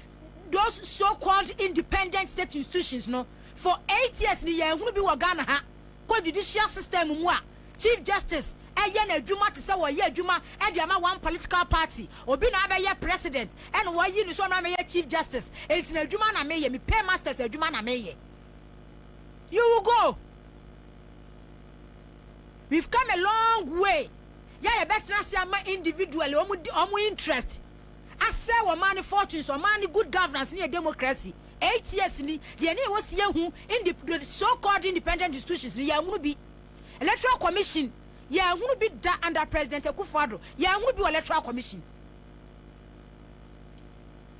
those so called independent state institutions no for eight years ni yɛn hunu bi wɔ Ghana ha kɔ judicial system mu a. Chief Justice yɛ n'adwuma te sɛ wɔyɛ adwuma de ama one political party. Obi na abɛyɛ President ɛna wɔayi no sɛ ɔmmra mmɛyɛ Chief Justice. Enti n'adwuma na meyɛ. Me Paymasters adwuma na meyɛ. You will go. We've come a long way. Yɛ a yɛbɛtena ase ama individually wɔn di wɔn interest asɛe wɔn man no fortunes, wɔn man no good governance ne yɛ democracy. Eight years ni, deɛ ne yɛwɔ sie hu, indi, so called independent institutions no, yɛamunu bi. Electoral commission yɛnhunu bi da under president Akufo Addo yɛnhunu bi wɔ electoral commission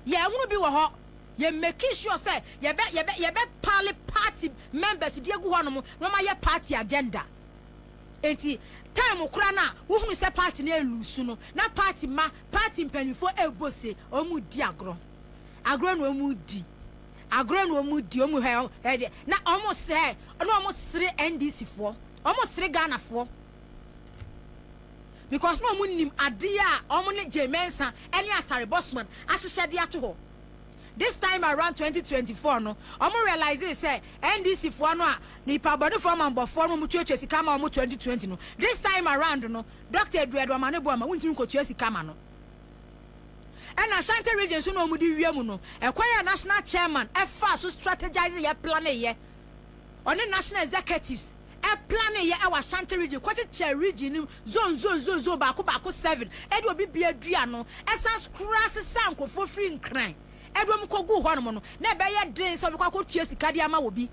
yɛnhunu bi wɔ hɔ yɛ making sure sɛ yɛbɛ yɛbɛ yɛbɛ pale party members di egu hɔ nom na wɔn ayɛ party agenda enti time kora na wohunu sɛ party no elusu no na party ma party mpanyinfoɔ ebo se wɔn di agorɔ agorɔ na wɔn di. Agorɔ na ɔmo di ɔmo hɛ hɛ deɛ na ɔmo sɛ na ɔmo sere NDC foɔ ɔmo sere Ghana foɔ because na ɔmo nim adeɛ a ɔmo ne Jay Mensah ɛne Asare Bossman ahyehyɛ de ato hɔ this time around 2024 no ɔmo realize sɛ NDC foɔ no a nipa bɔne foɔ manbɔ foɔ no ɔmo tuatua sika ma ɔmo 2020 no this time around no Doctor Adua Aduamane Boama wontumi nkotua sika ma no. Ɛna Ashanti region nso na wɔn de wia mu no, ɛkwan a national chairman ɛfaa so strategise yɛ plane yɛ, ɔne national executives ɛplane yɛ ɛwɔ Ashanti region kɔkyekyɛ region no mu zone zone zone zone baako baako seven ɛde obi bia dua ano ɛsan so koraa sesaa nkorɔfoɔ firi Nkran ɛde wɔn kɔ guu hɔ nom no na ɛbɛyɛ den sɛ ɔbɛkɔ akɔ tua sika de ama obi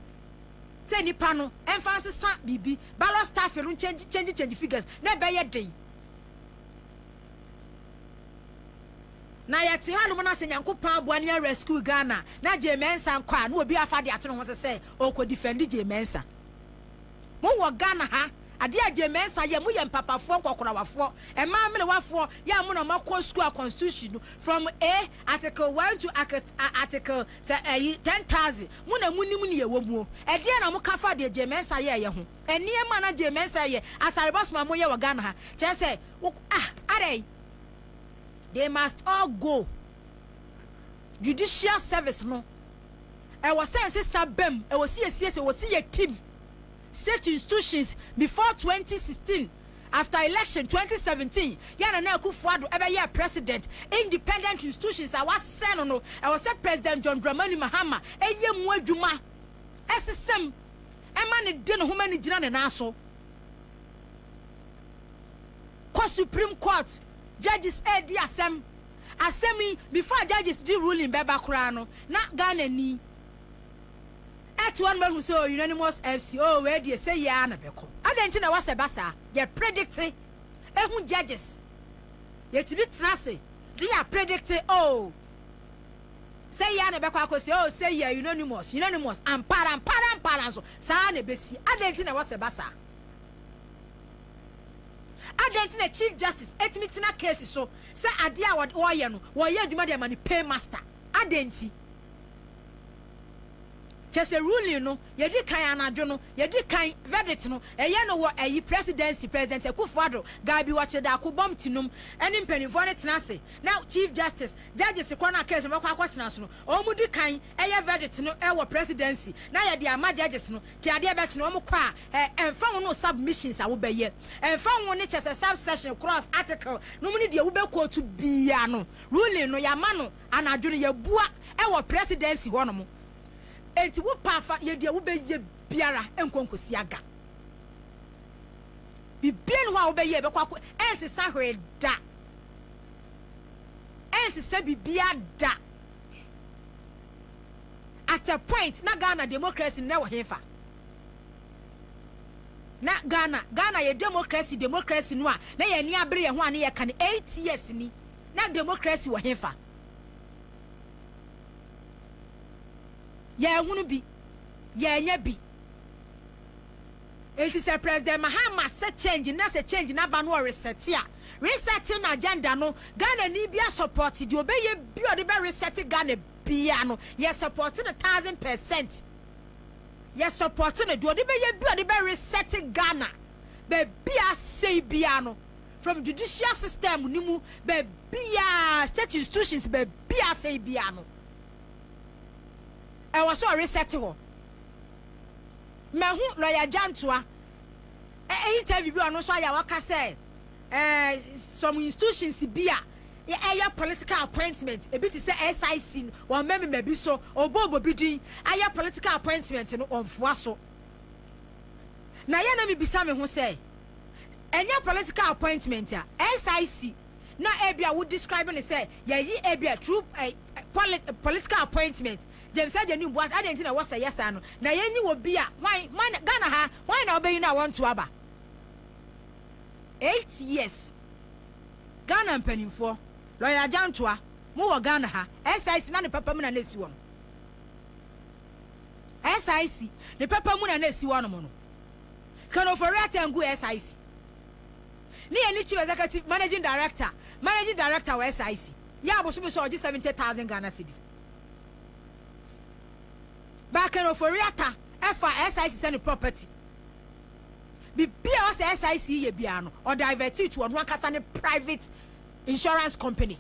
sɛ nipa no ɛmfa nsesa biribi ballot staffing no change change change figures na ɛbɛyɛ den. Na yɛte hɔ nom na sɛ Nyankopɔn aboa na yɛ rescue Ghana na Jay Mensah nkɔ a na obi afa ade ato ne ho so sɛ ɔɔkɔ defend Jay Mensah. Mo wɔ Ghana ha adeɛ a Jay Mensah yɛ mo yɛ mpapafoɔ nkɔkorawafoɔ mmaa mmerewafoɔ yɛ a mo na mo akɔ school a constitution no from A article one to article a article sɛ ayi ten thousand mo na mo nim neɛ ɛwɔ muo ɛdeɛn na mo ka fa deɛ Jay Mensah yɛɛyɛ ho. Nneɛma a na Jay Mensah yɛ asarebɔ som a moyɛ wɔ Ghana ha kyerɛ sɛ wo ah adɛn? They must all go. Judicial service no ɛwɔ sɛ nsesa bam, ɛwɔ sɛ yɛsiesie, ɛwɔ sɛ yɛ team state institutions before 2016 after election 2017 yɛ Nana Akuffo Addo ɛbɛyɛɛ president independent institutions a wasɛe no no ɛwɔ sɛ President John Dramani Mahama ɛyɛ mu adwuma ɛsesam Ɛma no de ne ho ma no gyina ne nan so kɔ Supreme Court judges redi asɛm. Asɛm yi, before judges de ruling bɛba koraa no, na Ghana ni ɛte hɔ no mahu sɛ oh, unanimous FC, oh, wei deɛ sɛ yie ara na bɛkɔ. Adɛn nti na ɛwɔ sɛ ɛba saa? Yɛ predicte ɛho judges. Yɛtumi tena ase de yɛ apredicte oh, Sɛ yɛ ara na ɛbɛkɔ akosi, oh, sɛ yɛ, unanimous, unanimous, ampa ara, ampa ara, ampa ara nso, saa ara na ebesi. Adɛn nti na ɛwɔ sɛ ɛba saa? Adɛn nti na Chief Justice etumi tena case so sɛ adeɛ a wɔde wɔreyɛ no, wɔreyɛ adwuma de ama ne paymaster? Adɛn nti? Kyerɛ sɛ ruling no, yɛdi kan anadwo no, yɛdi kan verdict no, ɛyɛ no wɔ ayi Presidency, President Akufo-Addo, Gaabi, Wɔkyere Daako, Bɔm Tinom ne mpanimfoɔ no tena ase na Chief Justice, Judges, korɔ no a case no bɛkɔ akɔtena so no, wɔn mu di kan yɛ verdict no wɔ Presidency na yɛde ama Judges no, te adeɛ bɛkye no, wɔn kɔ a, ɛ, ɛmfa ho ne wo submissions a wobɛyɛ, ɛmfa ho ne, kyerɛ sɛ, subsection, clause, article, nom ne deɛ wobɛ quote biara no, ruling no yɛama no anadwo no, yɛabua wɔ Presidency hɔ nom, enti wo pɛ a fa yɛ deɛ wobɛyɛ biara, ɛnkɔ nkɔsi aga. Biribiara nni hɔ a wobɛyɛ a ɛbɛkɔ akɔ, ɛnsesa hwee da. ɛnsesɛ bibia da at a point na Ghana democracy nnɛ wɔ henfa? Na Ghana Ghana yɛ democracy democracy no a na yɛn ani abere yɛn ho a ne yɛka no eight years ni na democracy wɔ henfa? Yɛn hunu bi yɛn nyɛ bi. Enti sɛ President Mahama sɛ change na sɛ change no aba no ɔresɛte a resɛte no agenda no Ghanani bia sɔpɔte deɛ ɔbɛyɛ bia ɔde bɛ resɛte Ghana bia no yɛ sɔpɔte no thousand percent yɛ sɔpɔte no deɛ ɔde bɛyɛ bia ɔde bɛ resɛte Ghana baabi a asɛe bia no from judicial system no mu baabiaa state institutions baabi a asɛe bia no ɛwɔ sɛ ɔresɛte hɔ. Mahu lɔya Gyantoa eh interview bi a ɔno nso ayɛ a ɔka sɛ eh, some institutions bi a ɛyɛ political appointment, ebi te sɛ SIC no, wɔn mmɛmema bi so, ɔbɔ ɔbɔ bi din ayɛ political appointment no, ɔmfoa so. Na yɛ na mebisa me ho sɛ, ɛnyɛ political appointment a, SIC na ebi a wo describe no sɛ yɛyi ebi a through eh, eh, political appointment, James Agyenim bua sɛ, Adɛn nti na ɛwɔ sɛ ɛyɛ saa no? Na yei ne wɔ bi a, hwan, hwan na, Ghana ha, hwan na wobɛyi no a wɔnto aba? Eight years. Ghana mpanimfoɔ, Lɔya Agyantoa, mo wɔ Ghana ha, SIC na ne papa mu na na ɛsi hɔ no. SIC, ne papa mu na na ɛsi hɔ nom no. Ken Ofori-Atta ngu SIC. Ne yɛ ne Chief Executive, Managing Director, Managing Director wɔ SIC. Yɛ abosome so a ɔgye seventy thousand Ghana cedis. Baker Ofori-Atta ɛfa SIC sɛ ne property. Biribiara a ɔsɛ SIC yɛ biara no, ɔ divert to ɔno ankasa ne private insurance company.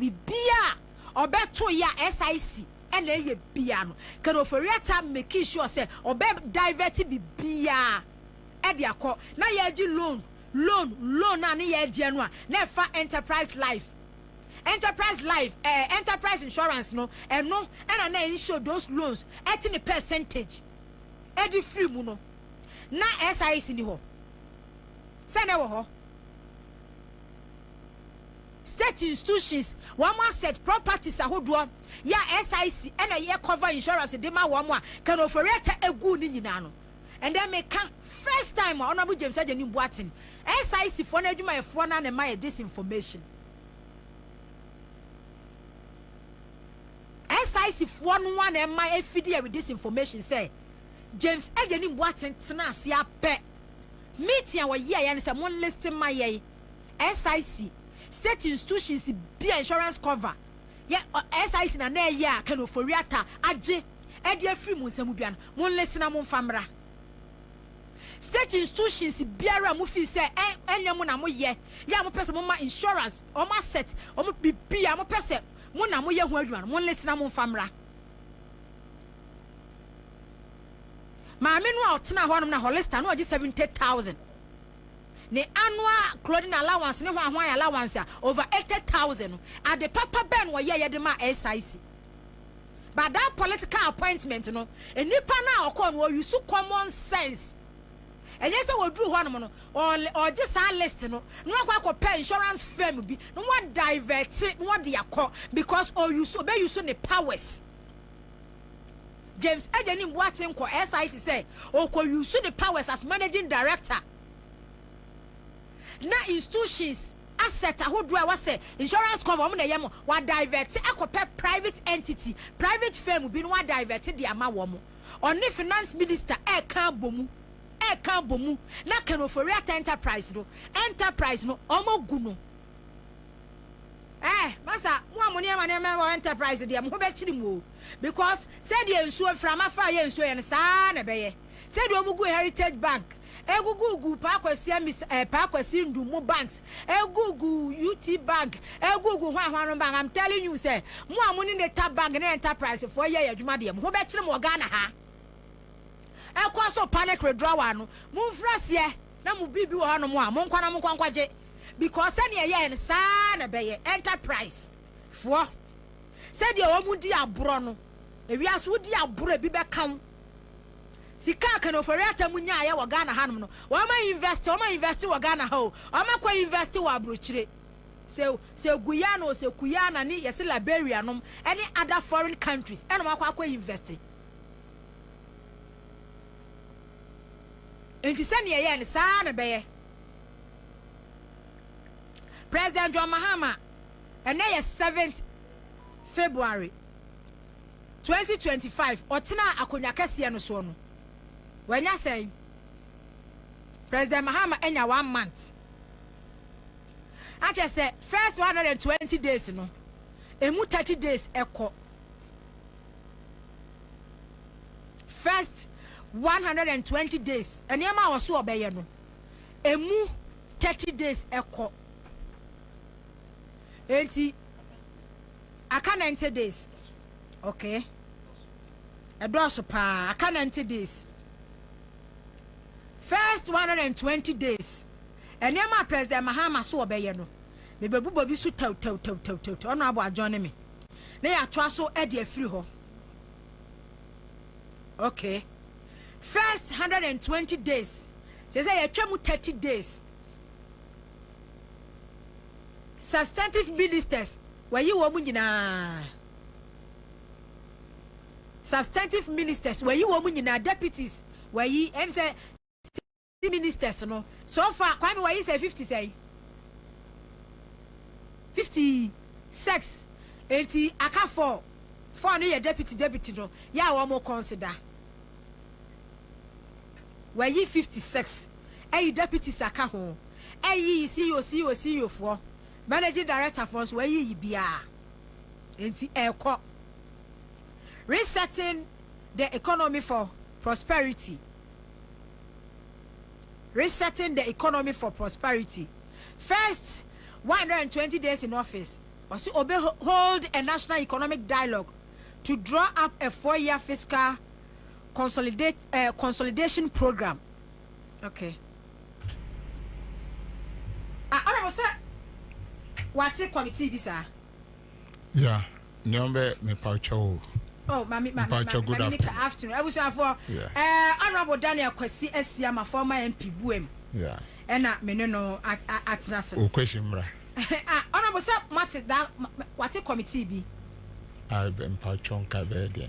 Biribiara a ɔbɛto yɛ a SIC ɛna ɛyɛ biara no, Ken Ofori-Atta make sure sɛ ɔbɛ divert biribiara ɛde akɔ. Na yɛgye loan, loan, loan a ne yɛgyeɛ no a, na ɛfa Enterprise Life Enterprise life eh Enterprise insurance no ɛno ɛna na insure those loans ɛte ne percentage ɛde firi mu no na SIC ni hɔ sɛ na ɛwɔ hɔ State institutions wɔn asset properties ahodoɔ yɛ a SIC ɛna ɛyɛ cover insurance de ma wɔn a can ofori ɛta ɛgu ne nyinaa no And then me ka first time a Honourable James Agyenim Boateng, SIC foɔ no adwumayɛfoɔ no a na ɛma yɛ this information. SIC foɔ no a na ɛma ɛfidi yɛ with this information sɛ James Agyenim Boateng tena ase apɛ meeting a wɔyɛ yɛ no sɛ mo list ma yɛ SIC state institutions bi a insurance cover yɛ SIC na na ɛyɛ a Ken Ofori-Atta agye ɛde afiri mo nsa mu biara no, monlese na momfa mmra. State institutions biara a mofii sɛ ɛ, ɛnyɛ mo na moyɛ, yɛ a mopɛ sɛ moma insurance, wɔn asset, wɔn biribi a mopɛ sɛ mo na moyɛ ho adwuma no, monlese na momfa mmra. Maame no a ɔtenaa hɔnom na Hollister na ɔgye seventy thousand. Ne annual clothing allowance ne hwan hwan allowance a over eighty thousand no, ade papa bɛn na ɔyɛeɛ de maa SIC? but that political appointment no nnipa no a ɔkɔɔ no ɔ use common sense ɛnyɛ sɛ wɔduru hɔ nom no ɔgye saa list no na wakɔ akɔpɛ insurance firm bi na wɔ divert na wɔde akɔ because ɔuse ɔbɛ use ne powers James Eje ne mbuate nkɔ SIC sɛ ɔkɔ use ne powers as managing director na institutions asset ahodoɔ a ɛwɔ sɛ insurance company wɔn na ɛyɛ mo, wa divert akɔ pɛ private entity, private firm bi na wa divert de ama wɔn. Ɔne finance minister ɛɛka abɔ mu, ɛɛka abɔ mu na Ken Ofori-Atta enterprise no, enterprise no wɔn agu no. Eh masa mo a mo nneɛma nneɛma wɔ enterprise deɛ mo ho bɛkyere mo o because sɛdeɛ nsuo mframa fa yɛ nsuo yɛ no saa ara na ɛbɛyɛ sɛdeɛ wɔn gu heritage bank Egugu gu Paa Kwasi Amis eh Paa Kwasi Ndu mo banks Egugu ut bank Egugu hwan hwan no bank I'm telling you sɛ mo a mo ne neta bank ne enterprise foɔ yɛ yɛ adwuma deɛ mo ho bɛ kyere mo wɔ Ghana ha ɛkɔ so panic redrɔ wa no mo nfiri aseɛ na mo biribi wɔ hɔ nom a mo nkɔ na mo nkɔ nkɔ gye because sɛdeɛ ɛyɛɛ no saa na ɛbɛyɛ enterprise foɔ sɛdeɛ wɔn di aborɔ no ewiase wo di aborɔ ebi bɛka wo. Sika a Ken Ofori Atta mu nyaeɛ wɔ Ghana hanom no, wɔama invɛste, wɔama invɛste wɔ Ghana ha o, wɔama kɔ invɛste wɔ abrokyire. Sɛ sɛ Guyana o, sɛ Kuyana ne yɛse Liberia nom ɛne other foreign countries ɛna wɔakɔ akɔ invɛste. Nti sɛnea ɛyɛɛ no saa ara na ɛbɛyɛ. President John Mahama, ɛnɛ yɛ seventh February. twenty twenty five ɔtenaa akonwa kɛseɛ no soɔ no wanya sɛn? President Mahama anya one month akyɛ sɛ first one hundred and twenty days no emu thirty days ɛkɔ first one hundred and twenty days nneɛma a ɔso ɔbɛyɛ no emu thirty days ɛkɔ enti. Aka ninety days. Okay. Ɛdɔɔso paa. Aka ninety days. First one hundred and twenty days. Nneɛma a President Mahama so ɔbɛyɛ no, mebɛbobɔ bi so tawtawtawtawtaw. Ɔno abɔ adwɔn ne me. Na yɛatoa so de afiri hɔ. Okay. First one hundred and twenty days. Sɛ sɛ yɛatwa mu thirty days. substantive ministers, wɔayi wɔn nyinaa. Substantive ministers, wɔayi wɔn nyinaa, deputies, wɔayi, ɛm sɛ ministers no, so far, Kwame wɔayi sɛ 50 sɛ, 56, enti aka four, four no yɛ deputy deputy no, yɛ a wɔn consider. Wɔayi 56 ayi deputies aka ho. Ayiyi CEO, CEO, CEO foɔ, managing director foɔ nso wɔayiyi biara. Enti ɛrekɔ. Resetting the economy for prosperity. Resetting the economy for prosperity. First 120 days in office, ɔse obe hold a national economic dialogue to draw up a four-year fiscal Consolidate eh, consolidation program. Okay. Ah, honorable sɛ wate committee bi saa. Yeah, nneɛma bɛ mepatwa o. Oh, mami, mami, mami, good mami, afternoon. afternoon. Abusuafoɔ, yeah. eh, honorable Daniel Kwasi Asiama, former MP Buem. Yeah. Ɛna me ne no atena se. O Kwasi mmra. ah, honorable sɛ mate da, wate committee bi. Ah, bɛ mpatwa nka bɛɛ deɛ.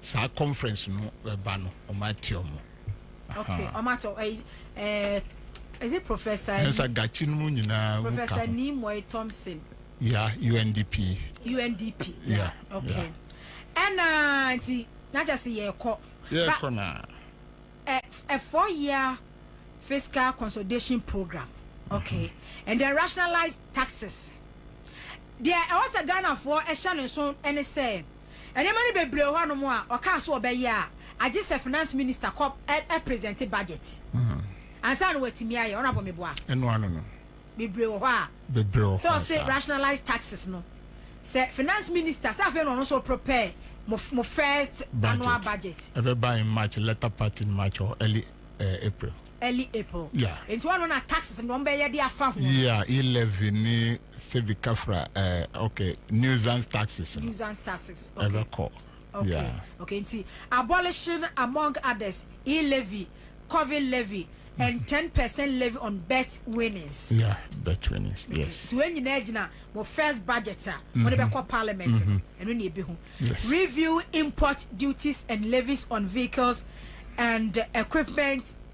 saa conference no bɛba no ɔmo ate ɔmo. okay ɔmo ate ɔmo ɛɛ eh, is it professor. ɛnsa gachi no mu nyinaa. professor nimoy thompson. ya yeah, undp. undp ya yeah, okay ɛna nti n'akyɛ se yɛ kɔ. yɛ kɔ na. ɛ ɛ four year fiscal consolidation program okay mm-hmm. and the rationalized taxes deɛ ɛwɔ sɛ ghanafoɔ ɛhyɛ ne nso ɛne sɛ. Nneɛma no bebree wɔ hɔnom a ɔkaa sɛ ɔbɛyɛ a agye sɛ Finance Minister kɔ presente budget ansa na watumi ayɛ. Honourable meboa? Ɛno ano no. Bebree wɔ hɔ a. Bebree wɔ hɔ a saa. Sɛ ɔse rationalise taxes no, sɛ Finance Minister, sɛ afei na ɔno nso reprepare mo, mo first annual budget. Ɛbɛba in March, latter part in March or early uh, April. Early April. Yeah. Nti hɔ no na taxes no wɔn bɛyɛ de afa ho. Yeah, e-levy ne civic kafra ɛɛ eh, ok nuisance taxes no nuisance taxes okay ɛbɛkɔ okay yeah. okay nti abolition among others e levy covid levy and mm-hmm. ten percent levy on bet winnings. yeah bet winnings mm-hmm. yes. nti wei nyinaa gyina mo first budget a wɔde mm-hmm. bɛkɔ parliament no ɛno na ebi ho review import duties and levies on vehicles and equipment.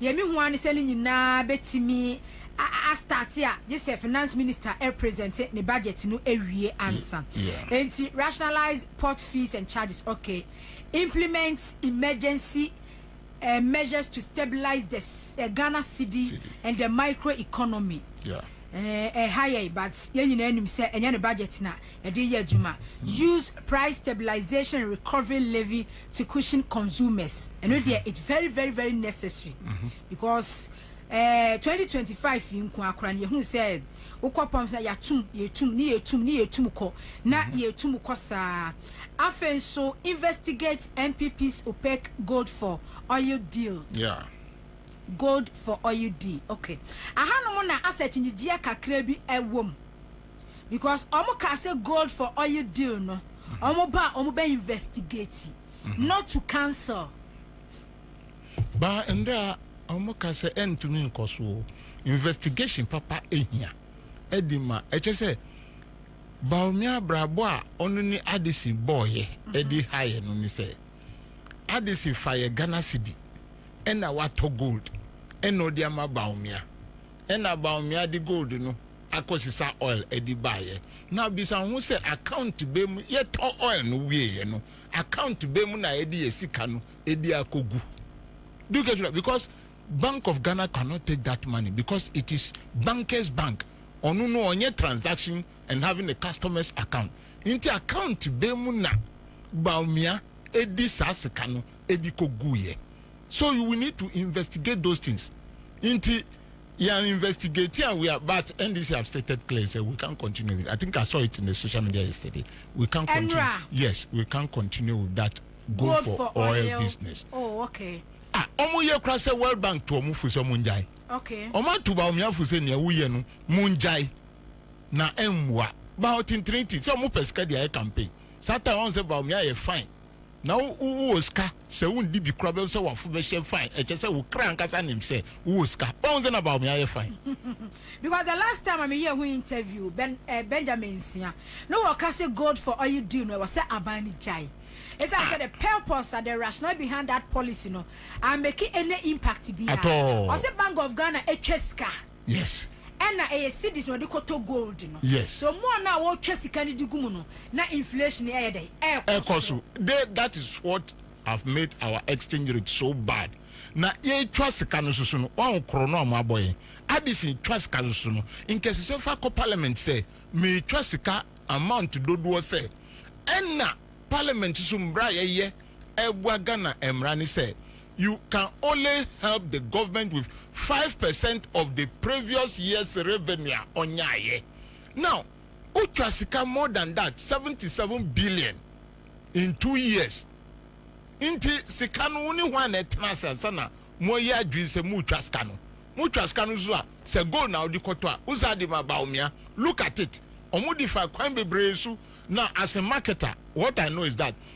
Deɛ mehu ara ne sɛ ne nyinaa bɛtumi astarte a gye sɛ finance minister represente ne budget no awie ansa. Enti rationalise port fees and charges, ok, implement emergency measures to stabilise the Ghana cedi and the micro economy. Ɛha yɛn but yɛn nyinaa nim sɛ ɛnyɛ ne budget na ɛde yɛ adwuma. Use price stabilisation and recovery levy to cushion consumers ɛno mm-hmm. deɛ it's very very very necessary mm-hmm. because ɛɛ eh, twenty twenty five yi nko akora no yɛhu sɛ wokɔ pɔm sɛ yɛatum yɛtum ne yɛtum ne yɛtum kɔ na mm-hmm. yɛtum kɔ saa afei nso investigate npp's opaque gold for oil deal. Yeah. gold for oil deal okay ahanom na asset nyigyia kakra bi ɛwɔ mu. because ɔmo kaa sɛ gold for oil deal no ɔmo ba a ɔmo bɛ investigate not to cancel. Baa ndɛ a ɔmo ka sɛ ɛntumi nkɔ so o, investigation papa ehia ɛde ma ɛkyɛ sɛ Bawumia abrabɔ a ɔno ne Addison bɔɔyɛ ɛde ha yɛ no ne sɛ Addison fa yɛ Ghana cedi ɛna watɔ gold ɛna ɔde ama Bawumia ɛna Bawumia de gold no akɔsesa oil de baeɛ. Now bisa wo ho sɛ account bɛn mu yɛtɔ oil no wieeɛ no account bɛn mu na yɛde yɛn sika no de akɔgu? Do you get what? Because Bank of Ghana cannot take that money because it is bankers bank. Ɔno no ɔnyɛ transaction and having a customers account. Nti account bɛn mu na Bawumia de saa sika no de kɔguiɛ? So we need to investigate those things. Nti Yɛn investigate a we are but NDC have stated clear sɛ we can't continue with I think I saw it in the social media yesterday we can't continue yes we can't continue with that gold for oil business oh okay ah ɔmo yɛ kora sɛ World Bank to ɔmo fo sɛ ɔmo ngyae okay ɔmo ato Bawumiafo sɛ nea woyɛ no mo ngyae na ɛmmoa Bawo tintirinti sɛ ɔmo pɛ sika de ayɛ campaign saa time ɔmo sɛ Bawumia yɛ fine Na wo wowɔ sika sɛ wo ndi bi kora bɛhu sɛ wafo bɛhyɛ fine ɛkyɛ sɛ wo kra ankasa nim sɛ wowɔ sika wahu sɛ na Bawumia yɛ fine. Because the last time a me yɛɛ ho interview Ben eh Benjamin Nsia na wɔ ka sɛ gold for oil deal no ɛwɔ sɛ aban no gyae ɛsiane sɛ the purpose and the rationale behind that policy no ammake any impact biaa At all. Ɔse Bank of Ghana atwa sika. Yes. Ɛna ɛyɛ cedis na ɔde kɔtɔ gold no. Yes. So more no a wɔtwa sika no de gu mu no na inflation no ɛyɛ dɛn? Ɛkɔ so. Ɛkɔ so. De that is what have made our exchange rate so bad. Na yɛtwa sika no soso no wahu koro no a wɔabɔ yɛn. Addison twa sika no soso no nkɛsesɛ fa kɔ parliament sɛ metwa sika amount dodoɔ sɛ ɛna parliament soso mmra a yɛyɛ ɛboa Ghana mmra ne sɛ You can only help the government with five percent of the previous year's revenue a ɔnyaeɛ. Now, wotwa sika more than that, seventy seven billion in two years. Nti sika no wo ne hwan na ɛtena ase ansa na moayi adwene sɛ moretwa sika no? Motwa sika no nso a, sɛ gold na wode kɔtɔ a, wo saa de ma Bawumia. Look at it. Wɔde fa kwan bebree so na as a marketer, what I know is that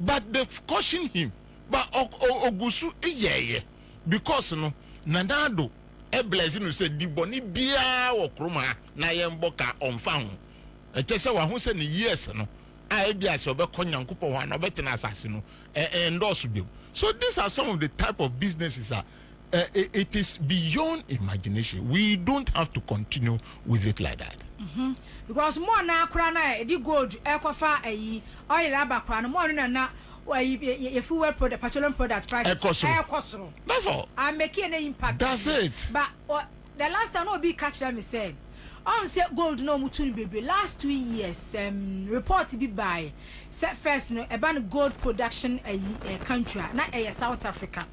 but they caution him but ɔguso yɛɛyɛ because no Nana Addo bless no sɛ di bɔne biara wɔ krom ha na yɛnbɔ ka ɔnfa ho ɛkyɛsɛ waho sɛ ne years no a ebia sɛ ɔbɛkɔ Nyankopɔn hɔ ana ɔbɛtena asase no ɛndɔɔso biom so these are some of the type of businesses a it is beyond imagination we don't have to continue with it like that. Mhm because mo a na kora na yɛde gold ɛkɔfa ayi oil aba kora no mo ano na na ayi yɛ fuel product petroleum product prices ɛkɔ soro ɛkɔ soro that's all I'm making an impact that's it but uh, the last time na obi ka kyerɛ me sɛ ɔn sɛ gold na ɔmo tu no bebree last two years um, report bi baae sɛ first no ɛba no gold production ayi uh, country a na ɛyɛ South Africa.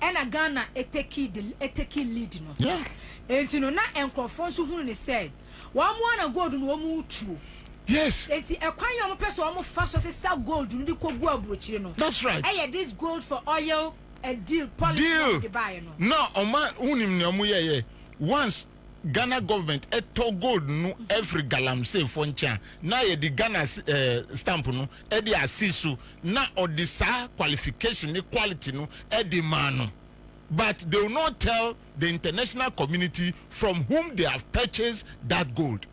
ɛna Ghana ɛteki the ɛteki lead no yeah. enti no na nkorɔfoɔ nso hunu ne sɛ wɔn ara na gold no wɔn retuo yes enti ɛkwan yɛ wɔn pɛ sɛ wɔn fa so sesa gold no de kɔ gu aburokyire no that's right ɛyɛ this gold for oil a deal policy deal. no de baayɛ no na wɔn a wonim nea wɔn yɛ yɛ once Ghana government tɔ gold no firi galamsey foɔ nkyɛn a, na yɛde Ghana eh, stamp no de asi so na ɔde saa qualification ne quality no de maa no. But they will not tell the international community from whom they have purchased that gold.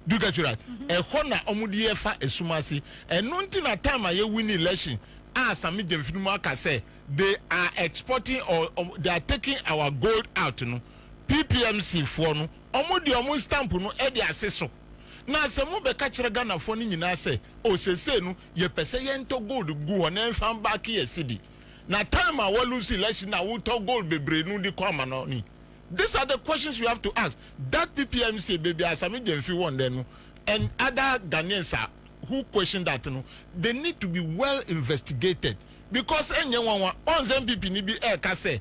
Do you get it right? Mm-hmm. Ɛhɔ na wɔn de yɛ fa esum ase. Ɛno nti na time a yɛ win election a Sami Gyamfi no mu aka sɛ they are exporting or, or they are taking our gold out no. PPMC foɔ no ɔmo de ɔmo stamp no de ase so na sɛ mo bɛka kyerɛ Ghana foɔ no nyinaa sɛ oh sesei no yɛ pɛ sɛ yɛn tɔ gold gu hɔ na ɛnfa mbacke yɛ cedi na time a wa lose election na wo tɔ gold bebree no de kɔ ama no ni these are the questions you have to ask that PPMC baby Asame Gyamfi won dɛ no and other Ghanaians are who question that no they need to be well investigated because ɛnyɛ nwanwa ɔn sɛ NPP ni bi ɛka sɛ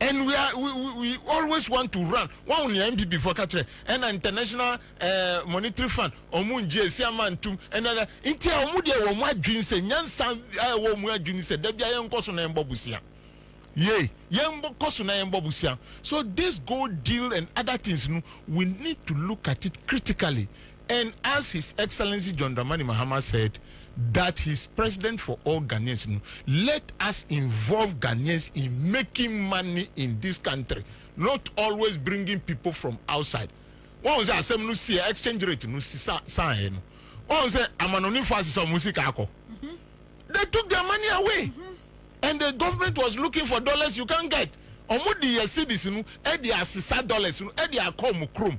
And we are we we we always want to run wahu nea NPP foɔ ka kyerɛ ɛna international eh, monetary fund ɔmo ngye esi ama ntum ɛna na nti a ɔmo deɛ wɔn adwene sɛ nyansa a ɛwɔ ɔmo adwene sɛ dabi a yɛn nkɔ so na yɛn bɔ bosia yei yɛn bɔ kɔ so na yɛn bɔ bosia so this gold deal and other things no we need to look at it critically And as His Excellency John Dramani Mahama said that he's president for all Ghanaians no, let us involve Ghanaians in making money in this country not always bringing people from outside. Wahu sɛ asɛm no siiɛ, exchange rate no sisa saeɛ no, wahu sɛ amanɔnefoɔ asesa wɔn sika akɔ. They took their money away and the government was looking for dollars you can't get. Wɔde yɛ cedis no de asesa dollars no de akɔ wɔn kurom.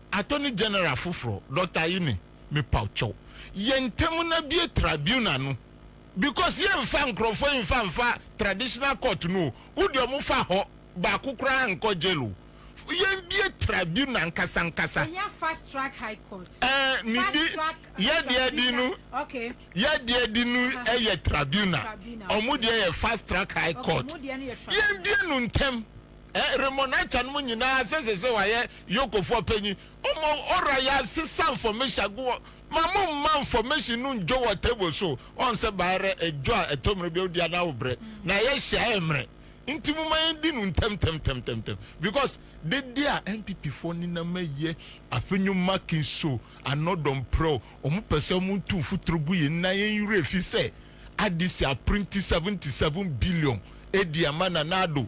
Attorney General foforɔ, Doctor Ayine, mepawkyɛw, yɛn ntam na bue tribunal no because yɛn nfa nkorɔfoɔ yi nfa nfa traditional court no o, wo deɛ ɔmo fa hɔ baako koraa nkɔ jail o, yɛn bue tribunal ankasa ankasa. Yɛhia fast track high court. Ɛɛ, ne di, yɛ deɛ di no, yɛ deɛ di no yɛ tribunal, ɔmo deɛ yɛ fast track high court, yɛn bue no ntɛm. Ɛ remmɔ n'agyanom nyinaa sɛ ɛsɛ sɛ wɔayɛ Yokofoɔ ɔpanyin. Ɔmɔ ɔra yɛ asesa nfɔmehya gu wɔ ma mo mma nfɔmehye no ndwo wɔ table so. Ɔn sɛ ba rɛ ɛdwo a ɛtɔ mmerɛ bi a odi a na wo brɛ na yɛ hyɛ a ɛmmerɛ. Nti mo ma yɛn di no ntɛm tɛm tɛm tɛm tɛm because dede a NPP foɔ nenam ayɛ afe nyo make nso anɔ dɔ mprɛ o. Ɔmo pɛ sɛ ɔmo ntu mfuturo gu yɛn na yɛn werɛ fi sɛ adc a printi 77 billion edi ama Nana Addo.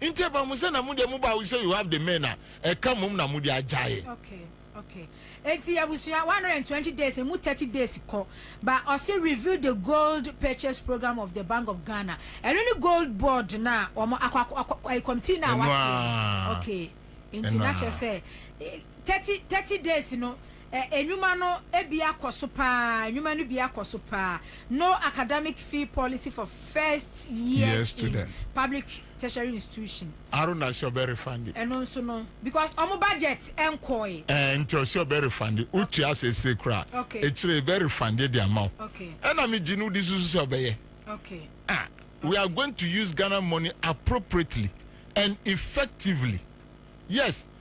Nti ɛba mo sɛ na mo deɛ mo ba wo sɛ you have the men a ɛka mom na mo de agyae. Okay okay enti abusua one hundred and twenty days emu thirty days kɔ ba ɔsi review the gold purchase program of the bank of Ghana ɛno ne gold board na wɔn akɔ akɔ akɔ ɛyi committee na wate okay enti na kyerɛ sɛ thirty thirty days no. Ɛ, nnwuma no bi akɔ so paa, nnwuma no bi akɔ so paa. No acadamic fee policy for first years Year in student. public tertiary institution. Aro na sɛ ɔbɛ refund. Ɛno nso no because ɔmo budget nkɔɔe. Ɛɛ nti ɔse ɔbɛ refund. Wo tua seesei koraa. Okay. Ekyire yɛbɛ refund de ama wo. Okay. Ɛna me gye no wode susu sɛ ɔbɛ yɛ. Okay. Ah, we are going to use Ghana money appropriately and effectively. Yes,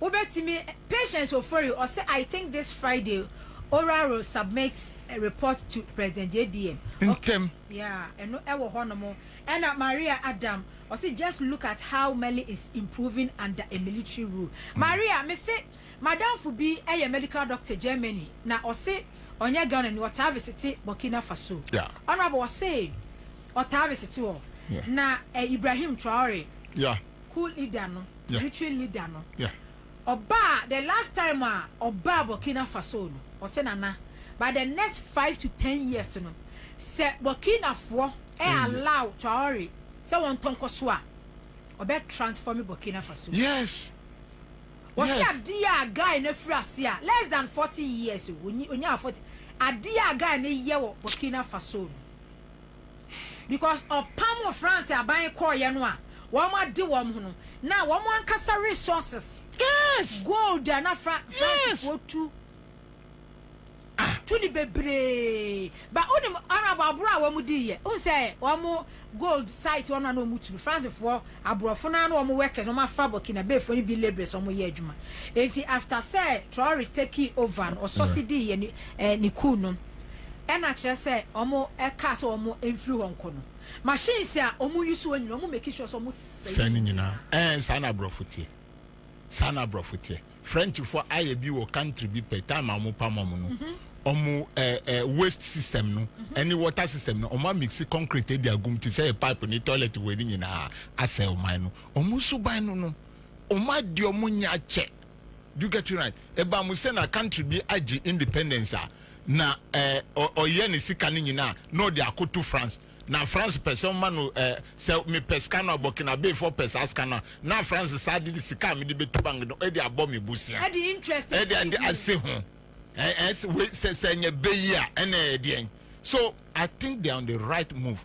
Wobɛtumi Patience Ofori ɔse I think this Friday Ora will submit report to President JDM okay Ntɛm. yeah ɛno ɛwɔ hɔ nom Ɛna Maria Adam ɔse just look at how Mali is improving under a military rule Maria mese Madamfo bi ɛyɛ medical doctor Germany na ɔse ɔnyɛ Ghana ni ɔtaa visite Burkina Faso Yeah. Honourable ɔse ɔtaa visite hɔ Yeah. na eh, Ibrahim Traore Yeah. coup leader no. territory leader no ɔbaa the last time a ɔbaa Burkina Faso no ɔsɛ Nana by the next five to ten years no sɛ Burkina foɔ ɛ allow Traore sɛ wɔn tɔ nkɔ so a ɔbɛ transform Burkina Faso yes ɔsɛ adeɛ a guy no afiri ase a less than forty years o onyaa forty adeɛ a guy no yɛ wɔ Burkina Faso no. because ɔpam wɔ France aban kɔɔyɛ no a wɔn ade wɔn ho no na wɔn ankasa resources yes gold a na fra yes. France foɔ tu ah. tu ne bebree ba wonim arab aboro a wɔn di yɛ wohu sɛ wɔn gold site wɔn na na wɔn tu France foɔ aborɔfo no a na wɔn workers wɔn afa Burkina Faso foɔ no bi labourers wɔn yɛ adwuma eti after sɛ Traore take over no ɔsɔsi di yɛ ne eh, ne cool no. ɛna kyerɛ sɛ ɔmo ɛkaa sɛ ɔmo ɛnfiri hɔ nkɔ no machines a ɔmo yi soɔ nyina ɔmo make sure sɛ ɔmo sɛe ne nyina ɛɛ saa na abrɔfo teɛ saa na abrɔfo teɛ French fo ayɛ bi wɔ country bi pɛ time a ɔmo pam ɔmo no mhm. ɔmo ɛɛ ɛɛ waste system no mhm. ɛne water system no ɔmo amixi concrete ɛdi agum te sɛ yɛ pipe ne toilet wɔ ɛne nyinaa asɛ ɔman no ɔmo suban no no ɔmo adi ɔmo nyɛ akyɛ Do get it right eba mu sɛ na country bi agye independence a na eh ɔyɛ ne sika no nyinaa na ɔde akoto France na France pɛ sɛ ɔma no eh sɛ me pɛ sika no a Burkinabe foɔ pɛ saa sika no a na France saa de de sika a mede bɛtu bank no ɛde abɔ me bosea ɛde interest ɛde asi ɛde ho. asi ho eh eh sɛ wei sɛ sɛ ɛnyɛ bɛ yi a ɛna ɛyɛ deɛn so I think they are on the right move.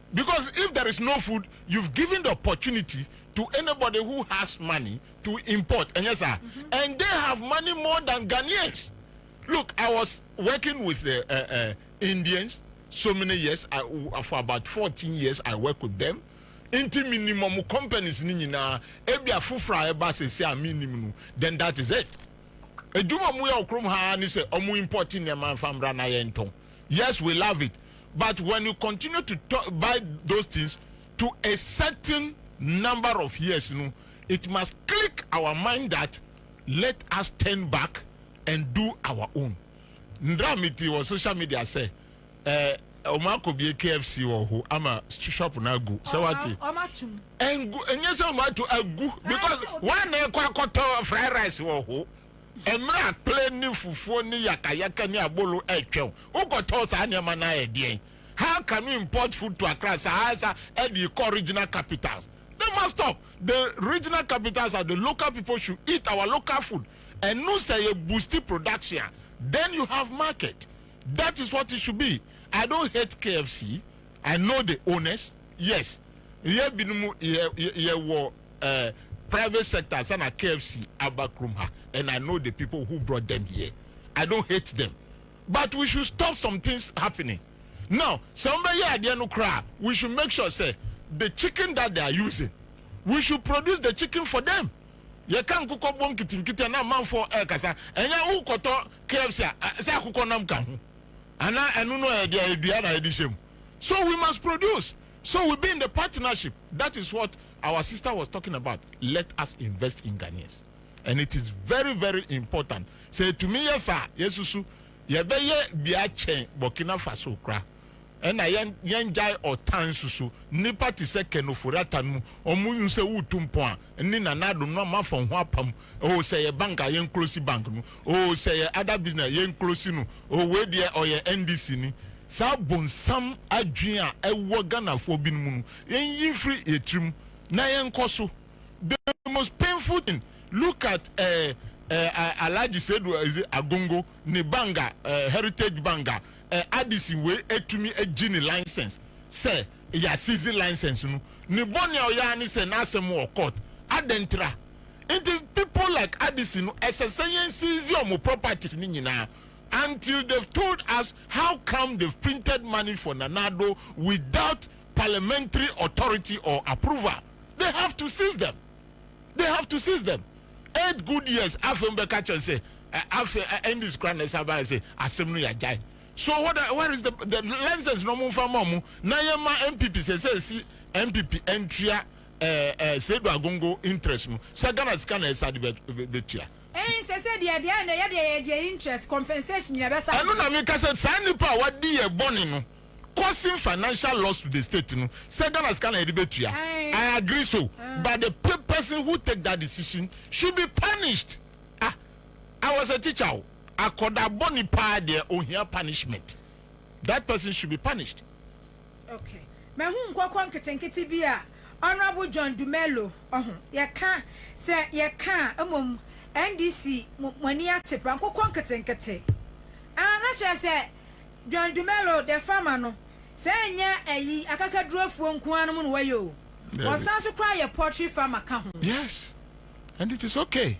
Because if there is no food you've given the opportunity to anybody who has money to import ɛnyɛ saa? And they have money more than Ghanaians look I was working with the eh eh Indians so many years I for about fourteen years I work with them nti me nim wɔn companies no nyinaa ebia foforɔ a ɛba sɛsɛ a me nim no then that is it adwuma wɔn yɛ wɔ kurom ha ara ne sɛ wɔn import nneɛma nfa mmra na yɛn tɔn yes we love it but when you continue to talk, buy those things to a certain number of years no it must click our mind that let us turn back and do our own ndra mete wɔ social media sɛ eh, ɔmo akɔbie KFC wɔ ho ama shop no agu sɛ wate ɛngu ɛnyɛ sɛ ɔmo ato agu because wɔn na ɛkɔ akɔtɔ fried rice wɔ ho. Mmerɛ a kplɛ ne fufuo ne yakayaka ne abolo retwɛn wo kɔtɔɔ saa nneɛma no ara yɛ deɛn? How can we import food to Accra saa sa de rekɔ regional capitals? They must stop the regional capitals a the local people should eat our local food ɛno sɛ yɛ boosti production a then you have market that is what it should be I don't hate KFC I know the owners Yes yɛ binom yɛ yɛ wɔ eh, private sector ansa na KFC aba krom ha and I know the people who brought them here I don't hate them but we should stop some things happening now sɛ wɔn bɛ yɛ adeɛ no koraa we should make sure sɛ the chicken that they are using we should produce the chicken for them yɛ ka nkokɔ bɔ nkitinkiti na amanfoɔ ɛkasa ɛnyɛ wo kɔtɔ KFC a sɛ akokɔ nam ka ho anaa ɛno no ɛdeɛ ɛdua na ɛde hyɛ mu. so we must produce so we be in the partnership that is what our sister was talking about let us invest in Ghanaians and it is very very important sɛ etumi yɛ saa yɛsusu yɛbɛyɛ bi akyɛn Burkina Faso kora ɛna yɛn yɛn gyae ɔtan susu nipa te sɛ kɛnofori atan mu wɔn nsɛ wutu mpɔn a ne nanado no amafa ho apam oh sɛ yɛ bank a yɛn close bank no oh sɛ yɛ other business a yɛn close no oh wei deɛ ɔyɛ NDC ni saa bonsam adwene a ɛwɔ Ghanafoɔ binom mu no yɛn yi mfiri yɛ tiri mu na yɛn kɔ so the most painful thing look at eh, eh, ah, Alhaji Sedu eh, Agongo ne bank a eh, Heritage bank a eh, Addison wei etumi egye ne license sɛ yɛ assisi license no ne bɔne a ɔyɛ ara ne sɛ n'asɛm wɔ court adɛn tra Nti people like Addison no ɛsɛ sɛ yɛn seize wɔn properties no nyinaa until they've told us how come they've printed money for Nana Addo without parliamentary authority or approval. They have to seize them. They have to seize them. Eight good years afei mo bɛka kyerɛ sɛ afei NDC kora na ɛsa baeɛ sɛ asɛm no yɛagyae. So what, where is the, the license no mo mfa ma ɔmo na yɛma NPP sɛ sɛ ɛsi NPP ntua eh eh sɛ edu agongo interest no sɛ Ghana sika na ɛsɛ ade bɛ tua. Eii sese deɛ deɛ na yɛdeɛ yɛgye interest compensation nyina bɛsa. Ɛno na meka sɛ saa nnipa a wadi yɛ bɔne no causing financial loss to the state no sɛ Ghana sika na yɛde bɛ tua I agree so but the person who take that decision should be punished ah I was a teacher o akɔda bɔne paa deɛ ohia punishment that person should be punished. Okay. Mahu nkɔkɔ nketenkete bi a Honourable John Dumelo ɔho yɛka sɛ yɛka a mmom NDC mo mo ani ate paa nkokɔ nketenkete ah na kyerɛ sɛ John Dumelo the farmer no sɛ ɛnyɛ ayi akakadurofoɔ nko ara nom na wɔyɛ o Dabi. wɔsan so koraa yɛ poultry farmer ka ho. Yes and it is okay.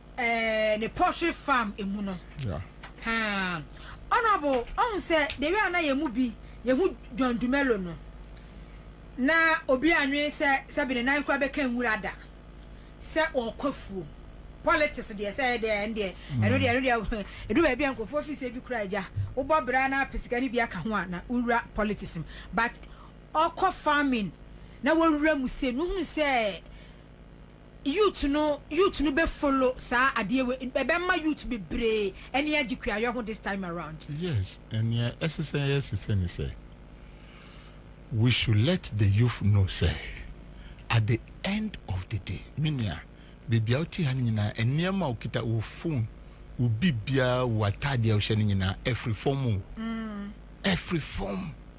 eh, ne poultry farm emu no. Yeah. Haa. Honorable, ɔhu sɛ the way a na yɛn mu bi yɛhu John Dumelo no, na obi anwene sɛ sɛbi ne nan kora bɛka nwura da sɛ ɔrekɔ afuom. Politics deɛ sɛ ɛyɛ deɛ ɛno deɛ ɛno deɛ ɛno deɛ ɛdu baabi a nkurɔfoɔ fi sɛ bi kura agya wobɔ bra na apɛ sika no bi aka ho a na wowura politics mu but ɔkɔ farming na wɔwura mu sɛ no hunu sɛ Youth no youth no bɛ follow saa adeɛ wei ɛbɛma youth bebree ani agye kuayɔ ho this time around. Yes nea ɛsesɛ yɛ sesɛ ne sɛ we should let the youth know sɛ at the end of the day me nua bebia wo te ha no nyinaa nneɛma a wo kita wo phone wo biribiaa wo ataadeɛ a wo hyɛ no nyinaa ɛfiri fam o ɛfiri fam.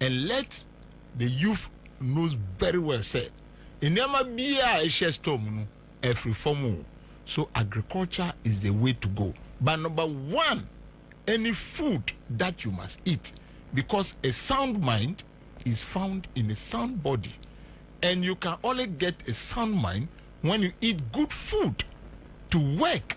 and let the youth knows very well sɛ nneɛma biaa a ɛhyɛ store mu no ɛfiri fam o so agriculture is the way to go but number one any food that you must eat because a sound mind is found in a sound body and you can only get a sound mind when you eat good food to work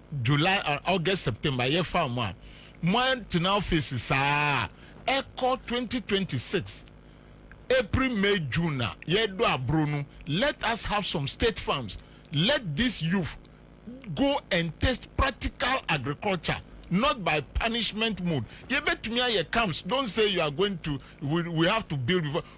July or August September yɛ fa mu a mo atena office saa a ɛkɔ twenty twenty six April May June a yɛdɔ abro no let us have some state farms let this youth go and taste practical agriculture not by punishment mode yɛbɛtumi ayɛ camps don't say you are going to we, we have to build before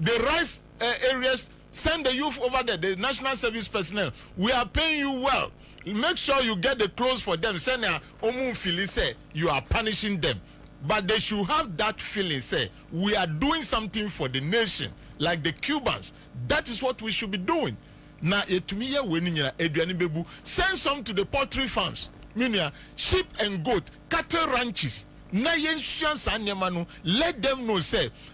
The rice eh, areas send the youth over there the national service personnel we are paying you well make sure you get the clothes for them sɛnea ɔmu nfili sɛ you are punishing them but they should have that feeling sɛ we are doing something for the nation like the Cubans that is what we should be doing na yɛtumi yɛ wei no nyina aduane bɛbu send some to the poultry farms me nua sheep and goat cattle ranches na yɛnsua saa nneɛma no let them know sɛ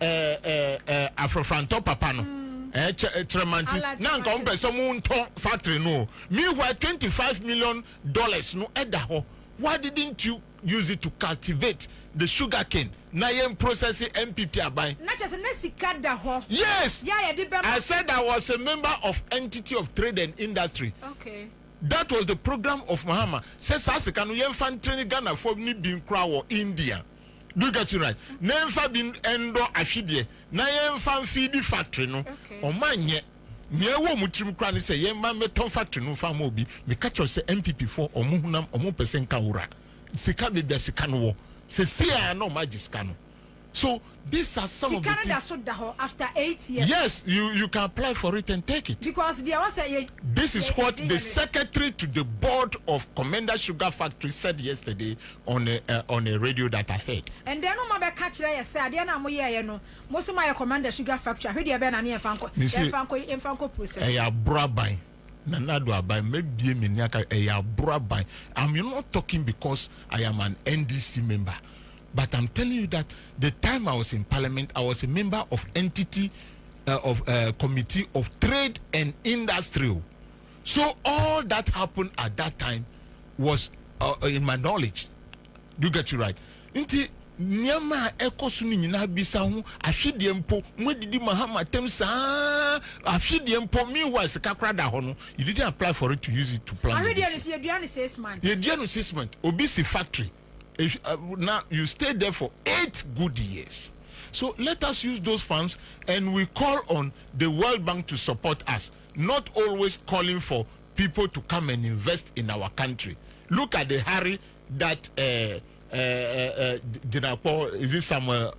ɛɛ ɛɛ ɛɛ afrafrantɔ papa no ɛɛ eh, kyɛ eh, kyerɛmanti na nka wɔn pɛ sɛ wɔn ntɔ factory no o meanwhile twenty five million dollars no ɛda hɔ why didn't you use it to cultivate the sugar cane na yɛn process npp aban. na kyerɛ sɛ na sika da hɔ. yes yɛ a yɛde bɛma. i said i was a member of entity of trade and industry. okay. that was the program of mahama sɛ saa sika no yɛn fa ntere ne ghana fo ne bi nkura wɔ india. Do you get it right? Na yɛmfa bi ndɔ ahwedeɛ na yɛmfa mfeedi factory no. Ɔma nyɛ. Nea ɛwɔ ɔmo tirim koraa ne sɛ yɛmma mmɛtɔn factory no mfa mma obi. Meka kyerɛ wo sɛ NPP foɔ ɔmo honam ɔmo mpɛ sɛ nka wura. Sika baabi a sika no wɔ. Sesei ara na ɔmo agye sika no. So these are some of the things. Sika no da so da hɔ after eight years. Yes you you can apply for it and take it. Because deɛ ɛwɔ sɛ yɛ. This is what the secretary to the board of Commenda Sugar Factory said yesterday on a eh, on a radio that I heard. Ɛndɛɛ no mma bɛka kyerɛ yɛ sɛ adeɛ no a moyɛɛyɛ no mo se moayɛ Commander Sugar Factory a, hwɛ deɛ ɛbɛyɛ na ne yɛmfa nkɔ Mese yɛmfa nkɔ yɛmfa nkɔ process. ɛyɛ aboraban Nana Addo Aban mɛbie m'ani aka ɛyɛ aboraban I'm not talking because I am an NDC member but I'm telling you that the time I was in parliament I was a member of entity uh, of uh, committee of trade and industry o So all that happened at that time was uh, in my knowledge. Do you get it right? Nti nneɛma a ɛkɔ so no nyinaa bisa ho ahwedeɛ mpo mo adidi ma ha matam saa ahwedeɛ mpo meanwhile sika kora da hɔ no you didn't apply for it to use it to plan ahwedeɛ no so yɛdua no six months yɛdua no six months obi si factory eh, uh, now you stay there for eight good years so let us use those funds and we call on the world bank to support us not always calling for people to come and invest in our country look at the hurry that uh, uh, uh, uh, Jinakpo is it Samuel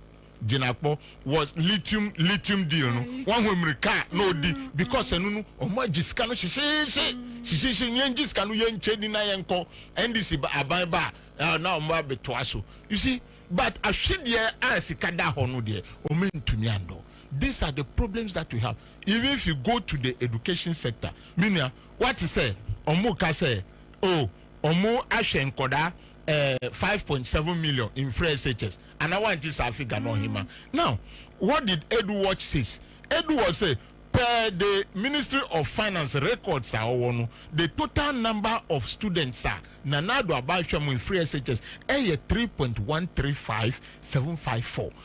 Jinakpo was lithium lithium deal no wɔn ho mmirika na odi because ɛno no wɔn agye sika no hyehyeehye hyehyeehye yɛn gye sika no yɛn nkyɛn ni na yɛn kɔ NDC aban ba a na wɔn abɛtoa so you see but ahwedeɛ a sika da hɔ no deɛ wɔn ntumi andɔ. These are the problems that we have even if you go to the education sector me nua wate sɛ ɔmo ka sɛ oh ɔmo ahwɛ nkɔdaa eh, five point seven million in free SHS ana wanti saa figure no ɔhema now what did Edu watch says Edu watch say per the ministry of finance records a ɔwɔ no the total number of students a Nana Addo Aba ahwɛ mo in free SHS ɛyɛ three point one three five seven five four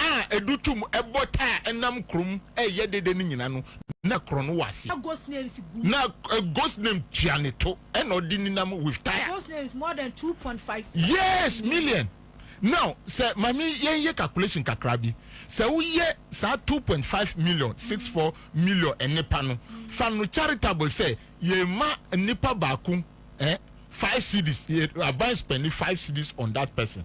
a edu tum bɔ taa nam kurom reyɛ dede no nyina no, na korɔn no wɔ ase. Na Gosnem tua ne to, ɛna ɔde ni nam with tire. Yes, million. Now, sɛ mame yɛn yɛ calculation kakra bi, sɛ wo yɛ saa two point five million, six four million nnipa no, fa no charitable sɛ yɛ ma nnipa baako eh, five cedis, yɛ aban spɛndi five cedis on that person,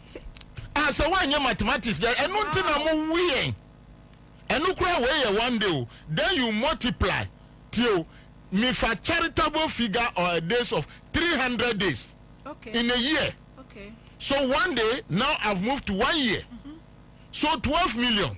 Ah sɛ woanyɛ mathematics dɛ ɛno nti na mo wu yɛn ɛno koraa wei yɛ one day o then you multiply tie o me fa charitable figure or a days of 300 days okay. in a year okay. so one day now I've moved to one year mm -hmm. so 12 million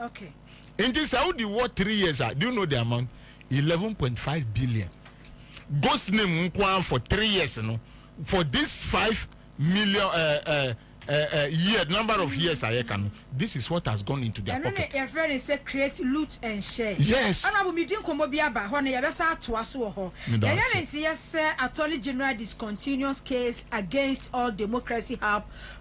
okay nti sɛ wodi wɔ three years a do you know the amount eleven point five billion ghost name nko ara for three years no for this five million uh, uh, uh, uh, year number of years ayɛ ka no this is what has gone into their pocket. ɛno ne yɛfrɛ ne sɛ create loot and share. yes ɛna abo medi nkɔmmɔ bi aba hɔ no yɛbɛsa atoa so wɔ hɔ yɛyɛ ne nteyɛ sɛ attorney general discontinuous case against all democracy help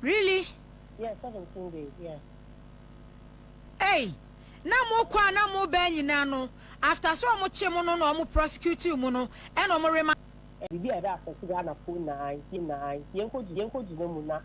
Really? Yeah, seventeen days, yeah. Ei! Na mo kɔ a na mo bɛɛ nyinaa no, after sɛ ɔmo kye mo no na ɔmo prosecute mo no, ɛna ɔmo rema. Biribi a ɛbɛ affect Ghana foɔ nyinaa, yɛn nyinaa, yɛnkɔ gyina mu na